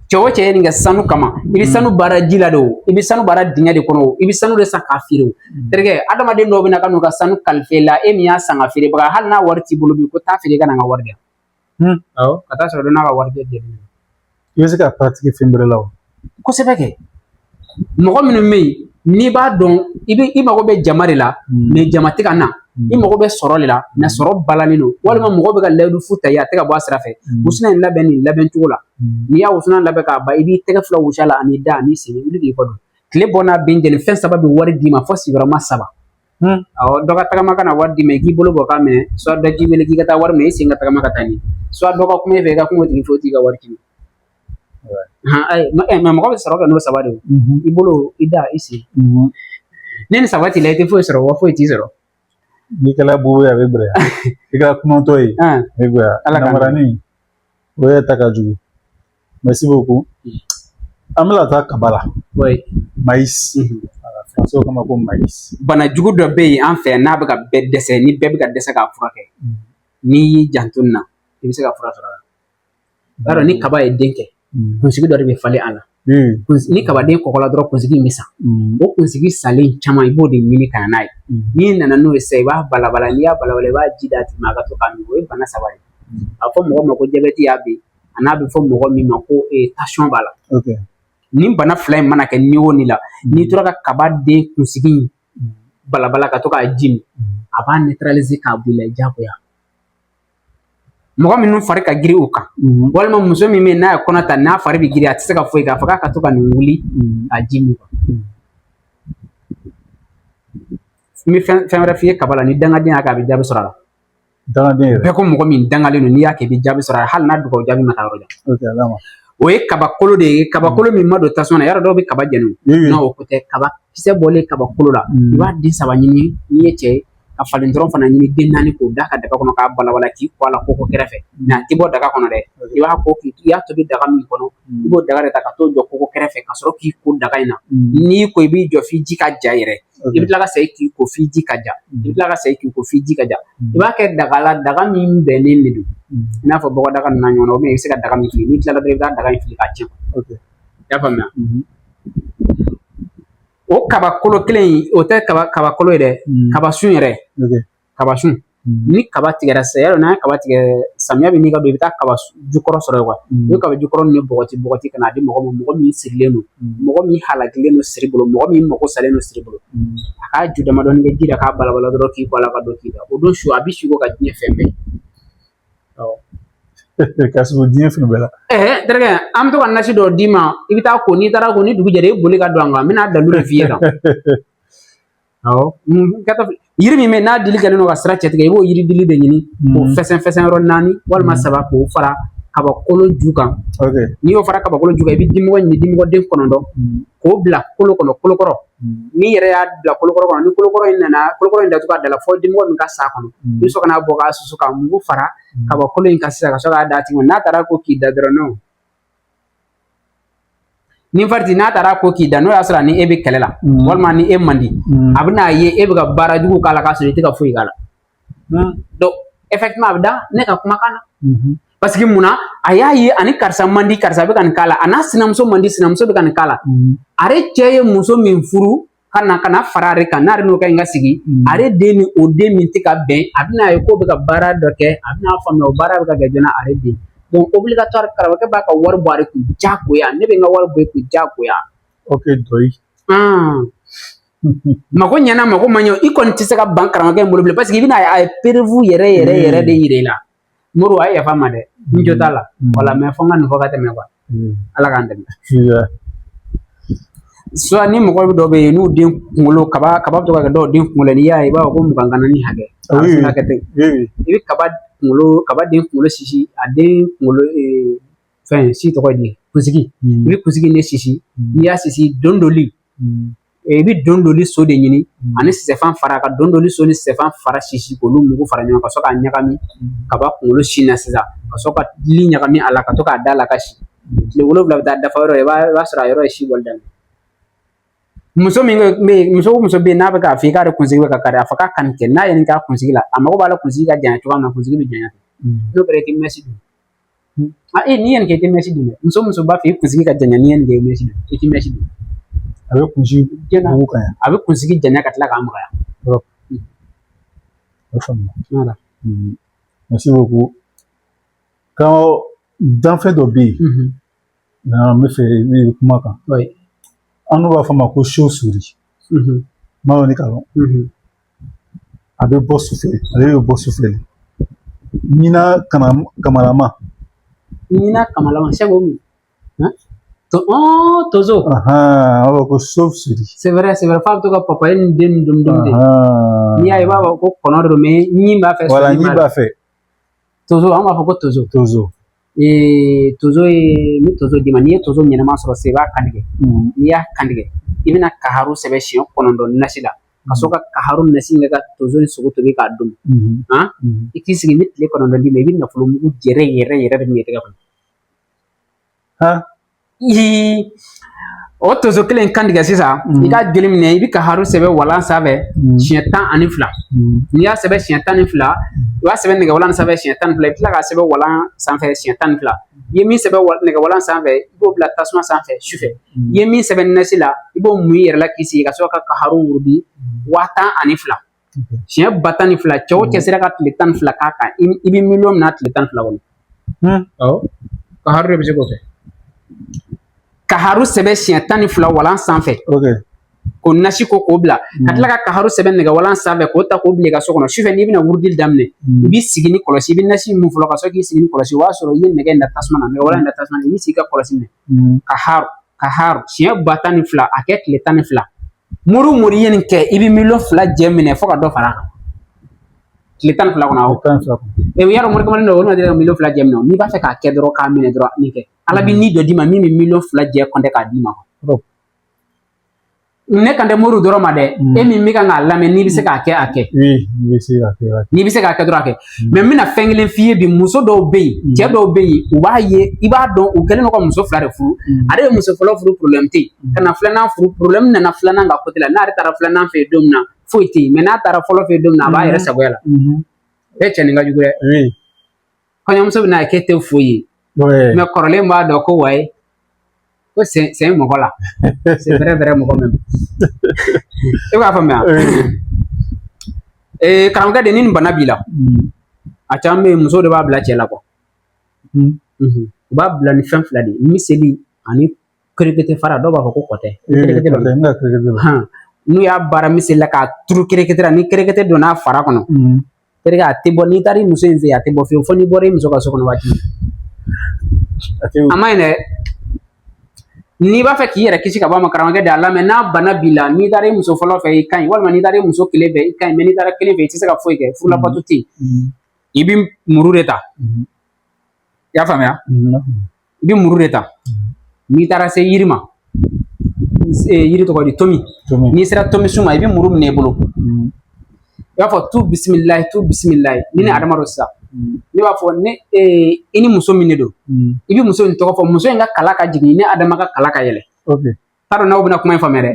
cɛ o cɛ ye nin kɛ sanu kama i bɛ sanu baara ji la de o i bɛ sanu baara dingɛ de kɔnɔ o i bɛ sanu de san k'a feere o terikɛ adamaden dɔw bɛ na ka n'u ka sanu kalifa i la e min y'a san ka feerebaga hali n'a wari t'i bolo bi ko taa feere ka na n ka wari di yan Hmm. Awɔ. Ka taa sɔrɔ dɔ n'a ka warijɛ jɛlen don. I bɛ se k'a paratiki fɛn wɛrɛ la wa? Kosɛbɛ kɛ. Mɔgɔ minnu bɛ yen n'i b'a dɔn i bɛ i mago bɛ jama de la hmm. mais jama tɛ ka na hmm. i mago bɛ sɔrɔ de la mais sɔrɔ balalen don walima mɔgɔ bɛ ka layidu fu ta i ye a tɛ ka bɔ a sira fɛ wusulan in labɛn nin labɛn cogo la n'i y'a wusulan labɛn k'a ban i b'i tɛgɛ fila wusu a la an'i da an'i sen wuli k'i kɔ don tile bɔ n'a bin cɛ nin fɛn saba bɛ wari d'i ma fo sigiyɔrɔma saba awɔ dɔ ka tagama ka na wari d'i ma i k'i bolo bɔ k'a minɛ soit dɔ k'i wele k'i ka taa wari minɛ i sen ka tagama ka taa nin soit dɔ ka kuma e fɛ i ka kuma o tigi fɛ o tigi ka wari ci i ma ayi mais mɔgɔ bɛ sɔrɔ kɛ n'o saba de ye i bolo i da i sen ni nin saba t'i la i tɛ foyi sɔrɔ wa foyi t'i sɔrɔ n'i kɛla bobo ye a bɛ gɛlɛya i kɛla kunatɔ ye a bɛ gɛlɛya namaranin o yɛrɛ ta ka jugu Merci beaucoup. An bɛna taa kaba la. Oui. Maïs. Mhm. Faransiw k'a ma ko maïs. Bana jugu dɔ bɛ yen an fɛ n'a bɛ ka bɛɛ dɛsɛ ni bɛɛ bɛ ka dɛsɛ k'a furakɛ. Mhm. N'i y'i janto nin na i bɛ se ka fura sɔrɔ a la. I b'a dɔn ni mhm. kaba ye den kɛ. Kunsigi dɔ de bɛ falen a la. Ni kabaden kɔgɔla dɔrɔn kunsigi in bɛ sa. O kunsigi salen caman i b'o de ɲini ka na n'a ye. N'i nana n'o ye sisan i b'a balabala n'i y'a balabala i b'a ji d'a tigi ma a ka to k'a min o ye bana saba de ye. A bɛ fɔ mɔgɔ min ma ko jabɛti y'a bin. a n'a bɛ fɔ mɔgɔ min ma ko tansiyɔn b'a la nin bana fila in mana kɛ ni o ni la n'i tora ka kaba den kunsigi balabala ka to k'a ji min a b'a neutraliser k'a bɔ i la diyagoya mɔgɔ minnu fari ka girin u kan mhm. walima muso min bɛ n'a ye kɔnɔ ta n'a fari bɛ girin a tɛ se ka foyi kɛ a fɔ k'a ka to ka nin wuli mhm. a ji min mhm. n bɛ fɛn fɛn wɛrɛ f'i ye kaba la ni dangaden y'a kɛ a bɛ jaabi sɔrɔ a la dangalen yɛrɛ bɛɛ ko mɔgɔ min dangalen don n'i y'a kɛ i bɛ jaabi sɔrɔ hali n'a dugawu jaabi ma taa yɔrɔ jan o ye kabakolo de ye kabakolo min ma don tasuma na yɔrɔ dɔw bɛ kaba jɛni non o ko tɛ kaba kisɛ bɔlen kabakolo la i b'a den saba ɲini n'i ye cɛ ye ka falen dɔrɔn fana ɲini den naani k'o da ka daga kɔnɔ k'a balabala k'i ko a la koko kɛrɛfɛ mais a tɛ bɔ daga kɔnɔ dɛ i b'a ko k'i y'a tobi daga min kɔnɔ i b'o daga de ta ka t'o jɔ koko kɛrɛfɛ ka sɔrɔ k'i ko daga in na n'i ko i b'i jɔ f'i ji ka ja yɛrɛ i bɛ tila ka segin k'i ko f'i ji ka ja i bɛ tila ka segin k'i ko f'i ji ka ja i b'a kɛ daga la daga min bɛnnen de don i n'a fɔ bɔgɔdaga ninnu n'a ɲɔgɔnna i bɛ se ka daga min fili n'i tilala dɔrɔn i bɛ taa daga in fili k'a tiɲɛ i y'a faamuya o kabakolo kelen in o tɛ kabakolo ye dɛ kaba sun yɛrɛ kaba sun mhm. ni kaba tigɛra sa yɔrɔ n'a ye kaba tigɛ samiya bɛ ɲini ka don i bɛ taa kaba jukɔrɔ sɔrɔ yen mhm. i bɛ kaba jukɔrɔ ni bɔgɔti bɔgɔti ka na di mɔgɔ ma mɔgɔ min sirilen don mhm. mɔgɔ min halakilen don siri bolo mɔgɔ min mago salen don siri bolo a k'a ju damadɔni kɛ ji la k'a balabala dɔrɔn k'i bɔ a la ka don k'i da o don su a bɛ siko ka diɲɛ fɛn bɛɛ ka sɔrɔ diɲɛ fɛn bɛɛ la ɛɛ terikɛ an bɛ to ka nasi dɔ d'i ma i bɛ taa ko n'i taara ko ni dugu jɛra i boli ka don an kan n bɛna dalu de f'i ye tan Awɔ yiri min bɛ n'a dili kɛlen don ka sira cɛtigɛ i b'o yiri dili de ɲini k'o fɛsɛn fɛsɛn yɔrɔ naani walima saba k'o fara kabakolo ju kan n'i y'o fara kabakolo ju kan i bɛ dimɔgɔ ɲini dimɔgɔ den kɔnɔntɔn k'o bila kolo kɔnɔ kolo kɔrɔ n'i yɛrɛ y'a bila kolo kɔrɔ ni kolo kɔrɔ in nana kolo kɔrɔ in datugu a da la fo dimɔgɔ min ka s'a kɔnɔ i bɛ sɔrɔ ka n'a bɔ k'a susu ka mugu fara kabakolo in kan sisan ka sɔrɔ k'a d'a tigi ma n'a taara ko k'i da dɔrɔn ni fariti n'a taara ko k'i da n'o y'a sɔrɔ ni e bɛ kɛlɛ la mm. walima ni e man di mm. a bɛn'a ye e bɛ ka baara jugu k'a la k'a sɔrɔ i tɛ ka foyi k'a la mm. donc effectivement a bɛ da ne ka kumakan na mm-hmm. parce que mun na a y'a ye a ni karisa man di karisa bɛ ka nin k'a la a n'a sinamuso man di sinamuso bɛ ka nin k'a la mm-hmm. ale cɛ ye muso min furu ka na ka na fara ale kan n'ale n'o kɛ n ka sigi mm. ale den ni o den min tɛ ka bɛn a bɛn'a ye k'o bɛ ka baara dɔ kɛ a bɛn'a faamuya o baara bɛ ka kɛ jɔn na ale den donc obligatoire karamɔgɔkɛ b'a ka wari bɔ ale kun diyagoya ne bɛ n ka wari bɔ e kun diyagoya. ok dɔyi. mago ɲɛna mago ma ɲɛ i kɔni tɛ se ka ban karamɔgɔkɛ in bolo bilen parce que i bɛna a ye a ye preuve yɛrɛ yɛrɛ yɛrɛ de yira i la. mori a ye yafa n ma dɛ n jo t'a la wala mais fo n ka nin fɔ ka tɛmɛ quoi ala k'an dɛmɛ soit ni mɔgɔ dɔw bɛ yen n'u den kunkolo kaba kaba bɛ to ka kɛ dɔw den kunkolo n'i y'a ye i b'a fɔ ko mugan ganannin hakɛ a bɛ se ka kɛ ten i bɛ kaba kunkolo kaba den kunkolo sisi a den kunkolo fɛn si tɔgɔ ye di kunsigi i bɛ kunsigi ne sisi n'i y'a sisi don dɔli i bɛ dondoli so de ɲini mm. ani sisɛfan fara ka dondoli so ni sisɛfan fara sisi k'olu mugu fara ɲɔgɔn kan ka sɔrɔ k'a ɲagami mm. kaba kunkolo si na sisan ka sɔrɔ ka li ɲagami a la ka to k'a da la ka si mm. tile wolonwula bɛ taa dafa yɔrɔ i b'a sɔrɔ a yɔrɔ ye si bɔli daminɛ muso min bɛ yen muso o muso bɛ yen n'a bɛ k'a fɔ i k'ale kunsigi bɛ ka kari a fɔ k'a ka nin kɛ n'a ye nin k'a kunsigi la a mago b'a la kunsigi ka janya cogoya min na kunsigi bɛ janya n'o kɛra i tɛ mɛsi don a e n'i ye nin kɛ i tɛ mɛsi don dɛ muso o muso b'a fɛ i kunsigi ka janya n'i ye nin kɛ i mɛsi don i tɛ mɛsi don a bɛ kunsigi janya ko kan a bɛ kunsigi janya ka tila k'a magaya yɔrɔ o faamuya merci beaucoup ka danfɛn dɔ bɛ yen n b'a fɛ i bɛ kuma a kan annu b'a fɔ a ma ko chauve-souris n m'a dɔn n'i k'a dɔn a bɛ bɔ su fɛ ale bɛ bɔ su fɛ de ɲina kama kamalama ɲina kamalama sɛbɛ o min to ɔɔ tonso an b'a fɔ ko chauve-souris c'est vrai c'est vrai f'a bɛ to ka papaye ni den ni dun dun de n'i y'a ye i b'a fɔ ko kɔnɔ de don mais ɲin b'a fɛ voilà ɲin b'a fɛ tonso an b'a fɔ ko tonso tonso ee tonso ye ni tonso d'i ma n'i ye tonso ɲɛnama sɔrɔ sisan i b'a kan tigɛ n'i y'a kan tigɛ i bɛna kaharu sɛbɛn siɲɛ kɔnɔntɔn nasi la ka sɔrɔ ka kaharu nasi in kɛ ka tonso in sogo tobi k'a dun han i k'i sigi ni tile kɔnɔntɔn d'i ma i bɛ nafolo mugu yɛrɛ yɛrɛ yɛrɛ de minɛ i tɛgɛ kɔnɔ o tonso kelen in kantigɛ sisan mm. i k'a joli minɛ i bɛ kaharu sɛbɛn walan sanfɛ mm. siɲɛ tan ani fila mm. n'i y'a sɛbɛn siɲɛ tan ni fila i b'a sɛbɛn nɛgɛwalan sanfɛ siɲɛ tan ni fila i bɛ tila k'a sɛbɛn walan sanfɛ siɲɛ tan ni fila i ye min sɛbɛn nɛgɛwalan sanfɛ i b'o bila tasuma sanfɛ sufɛ i ye min sɛbɛn nasi la i b'o mun i yɛrɛ la k'i sigi ka sɔrɔ kaharu wurudi waa tan ani fila siɲɛ ba tan ni fila cɛ o cɛ sera ka tile tan ni fila k'a kan i bɛ miliyɔn minɛ tile tan ni fila kɔnɔ kaharu de bɛ se k'o kɛ kaharu sɛbɛn siɲɛ tan ni fila walan sanfɛ k'o nasi ko k'o bila ka tila ka kaharu sɛbɛn nɛgɛwalan sanfɛ k'o ta k'o bila i ka so kɔnɔ sufɛ n'i bɛna wurudili daminɛ i b'i sigi ni kɔlɔsi i bɛ nasi mun fɔlɔ ka sɔrɔ k'i sigi ni kɔlɔsi o b'a sɔrɔ i ye nɛgɛ in da tasuma na nɛgɛwalan in da tasuma na i b'i sigi ka kɔlɔsi minɛ kaharu kaharu siɲɛ ba tan ni fila a kɛ tile tan ni fila mori o mori ye nin kɛ i bɛ miliyɔn fila jɛ minɛ fo ka dɔ fara a kan tile tan ni fila kɔnɔ a bɛ tan ni fila kɔnɔ mɛ yɔrɔ mori kamalen dɔw ma deli ka miliyɔn fila jɛ minɛ n'i b'a fɛ k'a kɛ dɔrɔn k'a minɛ dɔrɔn nin kɛ ala bɛ ni dɔ d'i ma min bɛ miliyɔn fila jɛ compter k'a d'i ma ne kan tɛ mori dɔrɔn ma dɛ e min bɛ kan k'a lamɛn n'i bɛ se k'a kɛ a kɛ n'i bɛ se k'a kɛ dɔrɔn a kɛ hmm. mais n bɛna fɛn kelen f'i ye bi muso dɔw bɛ yen hmm. cɛ dɔw bɛ yen u b'a ye i b'a dɔn u kɛlen don ka muso fila de furu hmm. ale ye muso fɔlɔ furu problème tɛ yen ka na filanan furu problème nana filanan ka côté la n'ale taara filanan fɛ yen don min na foyi tɛ yen mais n'a taara fɔlɔ fɛ yen don min na a b'a yɛrɛ sagoya la ee cɛ nin ka jugu dɛ kɔɲɔmuso bɛna kɛ tɛ foyi ye mais kɔrɔlen b'a dɔn ko wayi ko c'est c'est mɔgɔ la c'est vrai vrai mɔgɔ même e b'a faamuya ee karamɔgɔkɛ de ni nin bana b'i la a caman bɛ yen muso de b'a bila cɛ la kuwa u b'a bila ni fɛn fila de ye miseli ani kerekete fara dɔw b'a fɔ ko kɔtɛ n'u y'a baara miseli la k'a turu kerekete la ni kerekete donna a fara kɔnɔ terikɛ a tɛ bɔ n'i taara i muso in fɛ yen a tɛ bɔ fiyewu fo n'i bɔra i muso ka so kɔnɔ waati a man ɲi dɛ n'i b'a fɛ k'i yɛrɛ kisi ka bɔ a ma karamɔgɔkɛ de a lamɛn n'a bana b'i la n'i taara i muso fɔlɔ fɛ i ka ɲi walima n'i taara i muso kelen fɛ i ka ɲi mɛ n'i taara kelen fɛ i tɛ se ka foyi kɛ furu labato tɛ yen i bɛ muru de ta i y'a faamuya i bɛ muru de ta n'i taara se yiri ma yiri tɔgɔ di tomi n'i sera tomi sun ma i bɛ muru minɛ i bolo i b'a fɔ tu bisimila tu bisimila ni ne adama dɔ sisan ne b'a fɔ ne i ni muso min de don i bɛ muso in tɔgɔ fɔ muso in ka kala ka jigin ne adama ka kala ka yɛlɛ t'a dɔn n'aw bɛna kuma in faamuya dɛ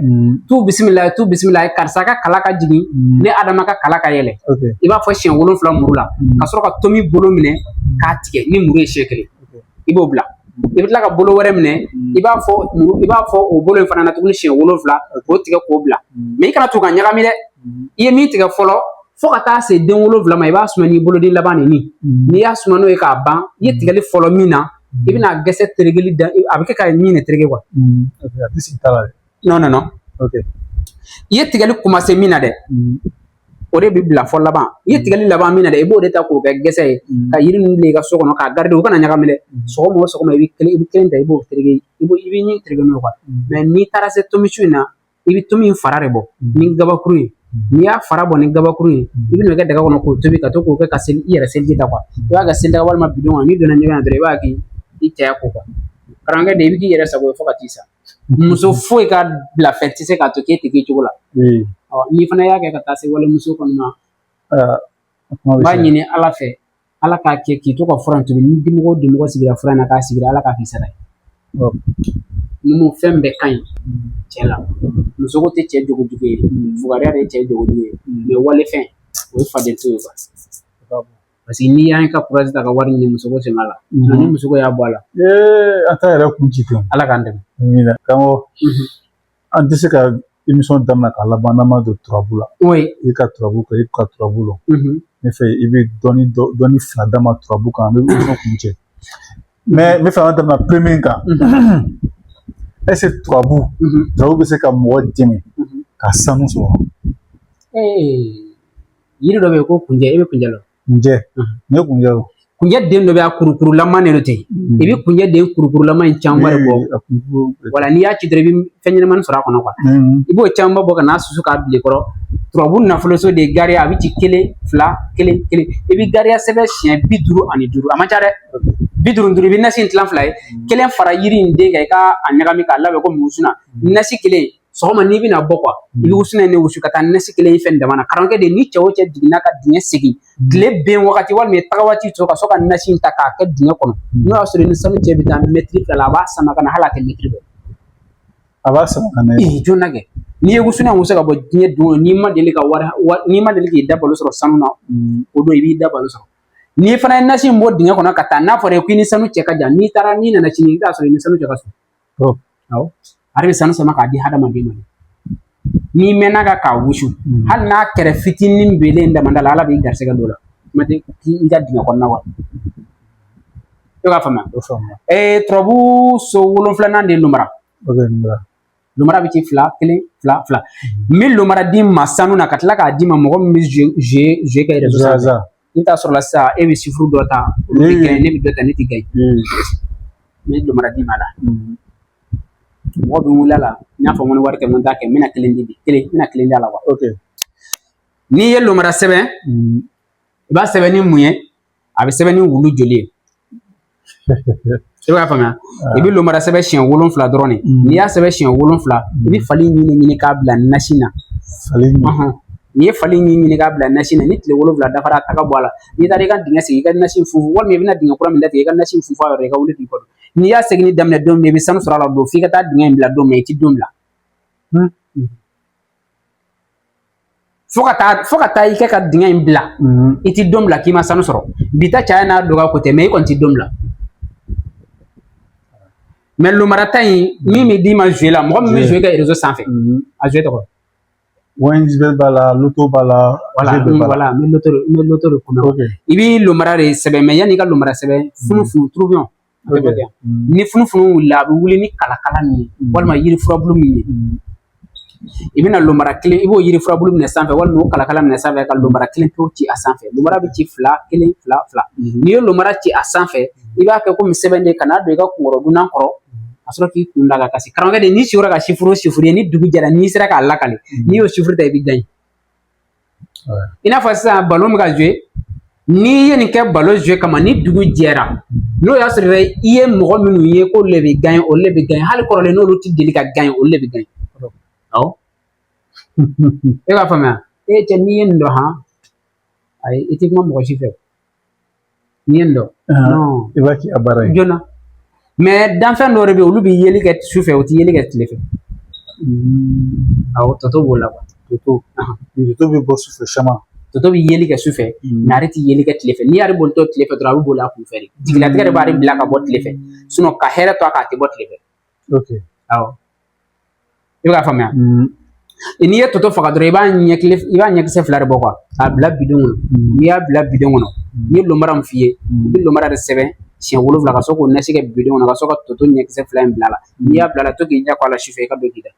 tu bisimila tu bisimila karisa ka kala ka jigin ne adama ka kala ka yɛlɛ i b'a fɔ siɲɛ wolonfila muru la ka sɔrɔ ka tomi bolo minɛ k'a tigɛ ni muru ye siɲɛ kelen i b'o bila i bɛ tila ka bolo wɛrɛ minɛ i b'a fɔ i b'a fɔ o bolo in fana na tuguni siɲɛ wolonfila k'o tigɛ k'o bila mɛ i kana to ka ɲagami dɛ i ye min tigɛ fɔlɔ fo ka taa se den wolonfila ma i b'a suma n'i boloden labannin n'i y'a suma n'o ye k'a ban i ye tigɛli fɔlɔ min na i bɛna gɛsɛ terekeli da a bɛ kɛ ka ɲin de tereke kuwa nɔn nɔn i ye tigɛli kumase min na dɛ o de bɛ bila fo laban i ye tigɛli laban min na dɛ i b'o de ta k'o kɛ gɛsɛ ye ka yiri ninnu bila i ka so kɔnɔ k'a garidi u kana ɲagami dɛ sɔgɔma o sɔgɔma i bɛ kelen i bɛ kelen ta i b'o tereke i b'o i bɛ ɲin tereke n'o ye kuwa mɛ n'i taara se tomi sun in na i bɛ tomi in fara de bɔ ni gabakuru ye n'i y'a fara bɔ ni gabakuru ye i bɛn'o kɛ daga kɔnɔ k'o tobi ka to k'o kɛ ka seli i yɛrɛ seliji ta kuwa i b'a kɛ selidaga walima bidɔn kɔnɔ n'i donna ɲɛgɛn na dɔrɔn i b'a kɛ i cɛya ko kuwa karamɔgɔkɛ de i bɛ k'i yɛrɛ sago fo ka t'i sa muso foyi ka bila fɛn tɛ se k'a to k'e tɛ k'i cogo la n'i fana y'a kɛ ka taa se walimuso kɔni ma n b'a ɲini ala fɛ ala k'a kɛ k'i to ka fura in tobi ni dimɔgɔ dimɔgɔ sigira fura in na k'a sigira ala k'a k'i sara ye numu fɛn bɛɛ ka ɲi cɛ la muso ko tɛ cɛ jogo jugu ye fugariya de ye cɛ jogo jugu ye mɛ walefɛn o ye faden to ye parce que n'i y'an ka kurazi ta ka wari ɲini muso ko sen b'a la ni muso ko y'a bɔ a la an t'an yɛrɛ kun ci ala k'an dɛmɛ karamɔgɔ an tɛ se ka imisɔn daminɛ k'a laban n'an ma don turabu la i ka turabu kɛ i ka turabu lɔn ne fɛ i bɛ dɔɔnin dɔɔnin fila d'an ma turabu kan an bɛ imisɔn kuncɛ mɛ n b'a fɛ an ka daminɛ pwɛn min kan est ce que turabu turabu bɛ se ka mɔgɔ dɛmɛ ka sanu sɔrɔ yiri dɔ bɛ yen ko kunjɛ i bɛ kunjɛ lɔn kunjɛ ne kunjɛ kunjɛ den dɔ bɛ a kurukurulama de ten i bɛ kunjɛ den kurukurulama in caman de bɔ wala n'i y'a ci dɔrɔn i bɛ fɛn ɲɛnamani sɔrɔ a kɔnɔ kuwa i b'o caman bɔ ka n'a susu k'a bil'i kɔrɔ turabu nafoloso de ye gariya a bɛ ci kelen fila kelen kelen i bɛ gariya sɛbɛn siɲɛ bi duuru ani duuru a man ca dɛ bi duuru duuru i bɛ nasi in tilan fila ye kelen fara yiri in den kan i k'a ɲagami k'a labɛn ko wusuna nasi kelen sɔgɔma n'i bɛna bɔ kuwa i bɛ wusuna in de wusu ka taa nasi kelen in fɛn dama na karamɔgɔkɛ de ni cɛ o cɛ jiginna ka dingɛ segin tile ben wagati walima taga waati sɔrɔ ka sɔrɔ ka nasi in ta k'a kɛ dingɛ kɔnɔ n'o y'a sɔrɔ i ni sanu cɛ bɛ taa mɛtiri fila la a b'a sama ka na hali a tɛ mɛtiri bɔ a b'a sama ka na ee jɔnna kɛ n'i ye wusuna wusu ka bɔ diɲɛ don o n'i ma deli ka wari n'i ma deli k'i da balo sɔrɔ sanu na o don i b'i da balo sɔrɔ n'i fana ye nasi in bɔ dingɛ kɔnɔ ka taa n'a fɔra i ko i ni sanu cɛ ka jan n'i taara n'i nana sini i bɛ t'a sɔrɔ i ni sanu cɛ ka surun oh. awɔ ale bɛ sanu sama k'a di hadamaden ma n'i mɛnna ka k'a wusu hmm. hali n'a kɛrɛ fitinin belen damanda la ala b'i garisɛgɛ dɔ la kuma tɛ i ka dingɛ kɔnɔna wa i b'a faamuya ee eh, turabu so wolonfilanan de ye lumara lumara bɛ ci fila kelen fila fila n bɛ lumara d'i ma sanu na ka tila k'a d'i ma mɔgɔ min bɛ zuwe kɛ yɛrɛ I bɛ t'a sɔrɔ la sisan e bɛ sifuru dɔ ta olu tɛ gaɲe ne bɛ dɔ ta ne tɛ gaɲe n bɛ lomara d'i ma la mɔgɔ bɛ wuli a la n y'a fɔ n ko ni wari tɛ n ko n t'a kɛ n bɛna kelen di kelen n bɛna kelen d'a la n'i ye lomara sɛbɛn i b'a sɛbɛn ni mun ye a bɛ sɛbɛn ni wulu joli ye i b'a faamuya i bɛ lomara sɛbɛn siɲɛ wolonfila dɔrɔn de n'i y'a sɛbɛn siɲɛ wolonfila i bɛ fali ɲin ɲini k'a bila nasi na n'i ye fali ɲin ɲini k'a bila nasi na ni tile wolonfila dafara a ta k'a bɔ a la n'i taara i ka dingɛ segin i ka nasi funfun walima i bɛna dingɛ kura min datigɛ i ka nasi funfun a yɔrɔ i ka wuli k'i kɔdon n'i y'a segin daminɛ don min i bɛ sanu sɔrɔ a la don f'i ka taa dingɛ in bila don min i tɛ don bila fo ka taa fo ka taa i kɛ ka dingɛ in bila i ti don bila k'i ma sanu sɔrɔ bi ta caya n'a dɔgɔya ko tɛ mɛ i kɔni ti don bila mɛ lomarata in min bɛ d'i ma zuwe la mɔgɔ min bɛ zuwe kɛ rezo sanfɛ a zuwe tɔgɔ ONG b'a la loto b'a la wala wala n bɛ loto n bɛ loto de kɔnɔ i bɛ lomara de sɛbɛn mɛ yanni i ka lomara sɛbɛn funufunu turubiyɔn ni funufunu wulila a bɛ wuli ni kalakala min ye walima yiri furabulu min ye i bɛna lomara kelen i b'o yiri furabulu minɛ sanfɛ walima o kalakala minɛ sanfɛ ka lomara kelen pewu ci a sanfɛ lomara bɛ ci fila kelen fila fila n'i ye lomara ci a sanfɛ i b'a kɛ komi sɛbɛn de ka n'a don i ka kunkɔrɔdonnan kɔrɔ ka sɔrɔ k'i kun d'a kan ka si karamɔgɔkɛ de n'i sugora ka sifuru sifuru ye ni dugu jɛra n'i sera k'a lakale n'i y'o sifuru ta i bɛ gaɲe i n'a fɔ sisan balon bɛ ka zuwe n'i ye nin kɛ balon zuwe kama ni dugu jɛra n'o y'a sɔrɔ i ye mɔgɔ minnu ye k'olu le bɛ gaɲe olu le bɛ gaɲe hali kɔrɔlen n'olu tɛ deli ka gaɲe olu le bɛ gaɲe awɔ e b'a faamuya e cɛ n'i ye nin dɔn han ayi i tɛ kuma mɔgɔ si fɛ Nin dɔn i b'a k'i ka baara ye joona mɛ danfɛn dɔw de bɛ yen olu bɛ yeli kɛ su fɛ u tɛ yeli kɛ tile fɛ hmm. awɔ toto b'o la toto toto bɛ bɔ sufɛ sama toto bɛ yeli kɛ sufɛ hmm. n'ale tɛ yeli kɛ tile fɛ n'i y'ale bolitɔ tile fɛ dɔrɔn a bɛ boli a kunfɛ de jigilatigɛ de b'ale bila ka bɔ tile fɛ sinɔn ka hɛrɛ to a kan a tɛ bɔ tile fɛ okay awɔ i bɛ k'a faamuya mm-hmm. n'i ye toto faga dɔrɔn i b'a ɲɛkile i b'a ɲɛkisɛ fila de bɔ kuwa k'a bila bidon kɔnɔ mm-hmm. n'i y'a bila bidon kɔnɔ mm-hmm. n ye lomara min f'i ye i bɛ lomara de sɛbɛn siɲɛ wolonwula ka sɔrɔ k'o nasi kɛ bidon kɔnɔ ka sɔrɔ ka toto ɲɛkisɛ fila in bila a la n'i y'a bila a la to k'i ɲɛ ko a la sufɛ i ka don k'i da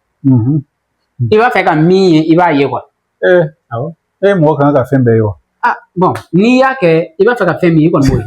i b'a fɛ ka min ye i b'a ye kuwa ee eh, awɔ e mɔgɔ kan ka fɛn bɛɛ ye wa ah bɔn n'i y'a kɛ i b'a fɛ ka fɛn min ye i kɔni b'o ye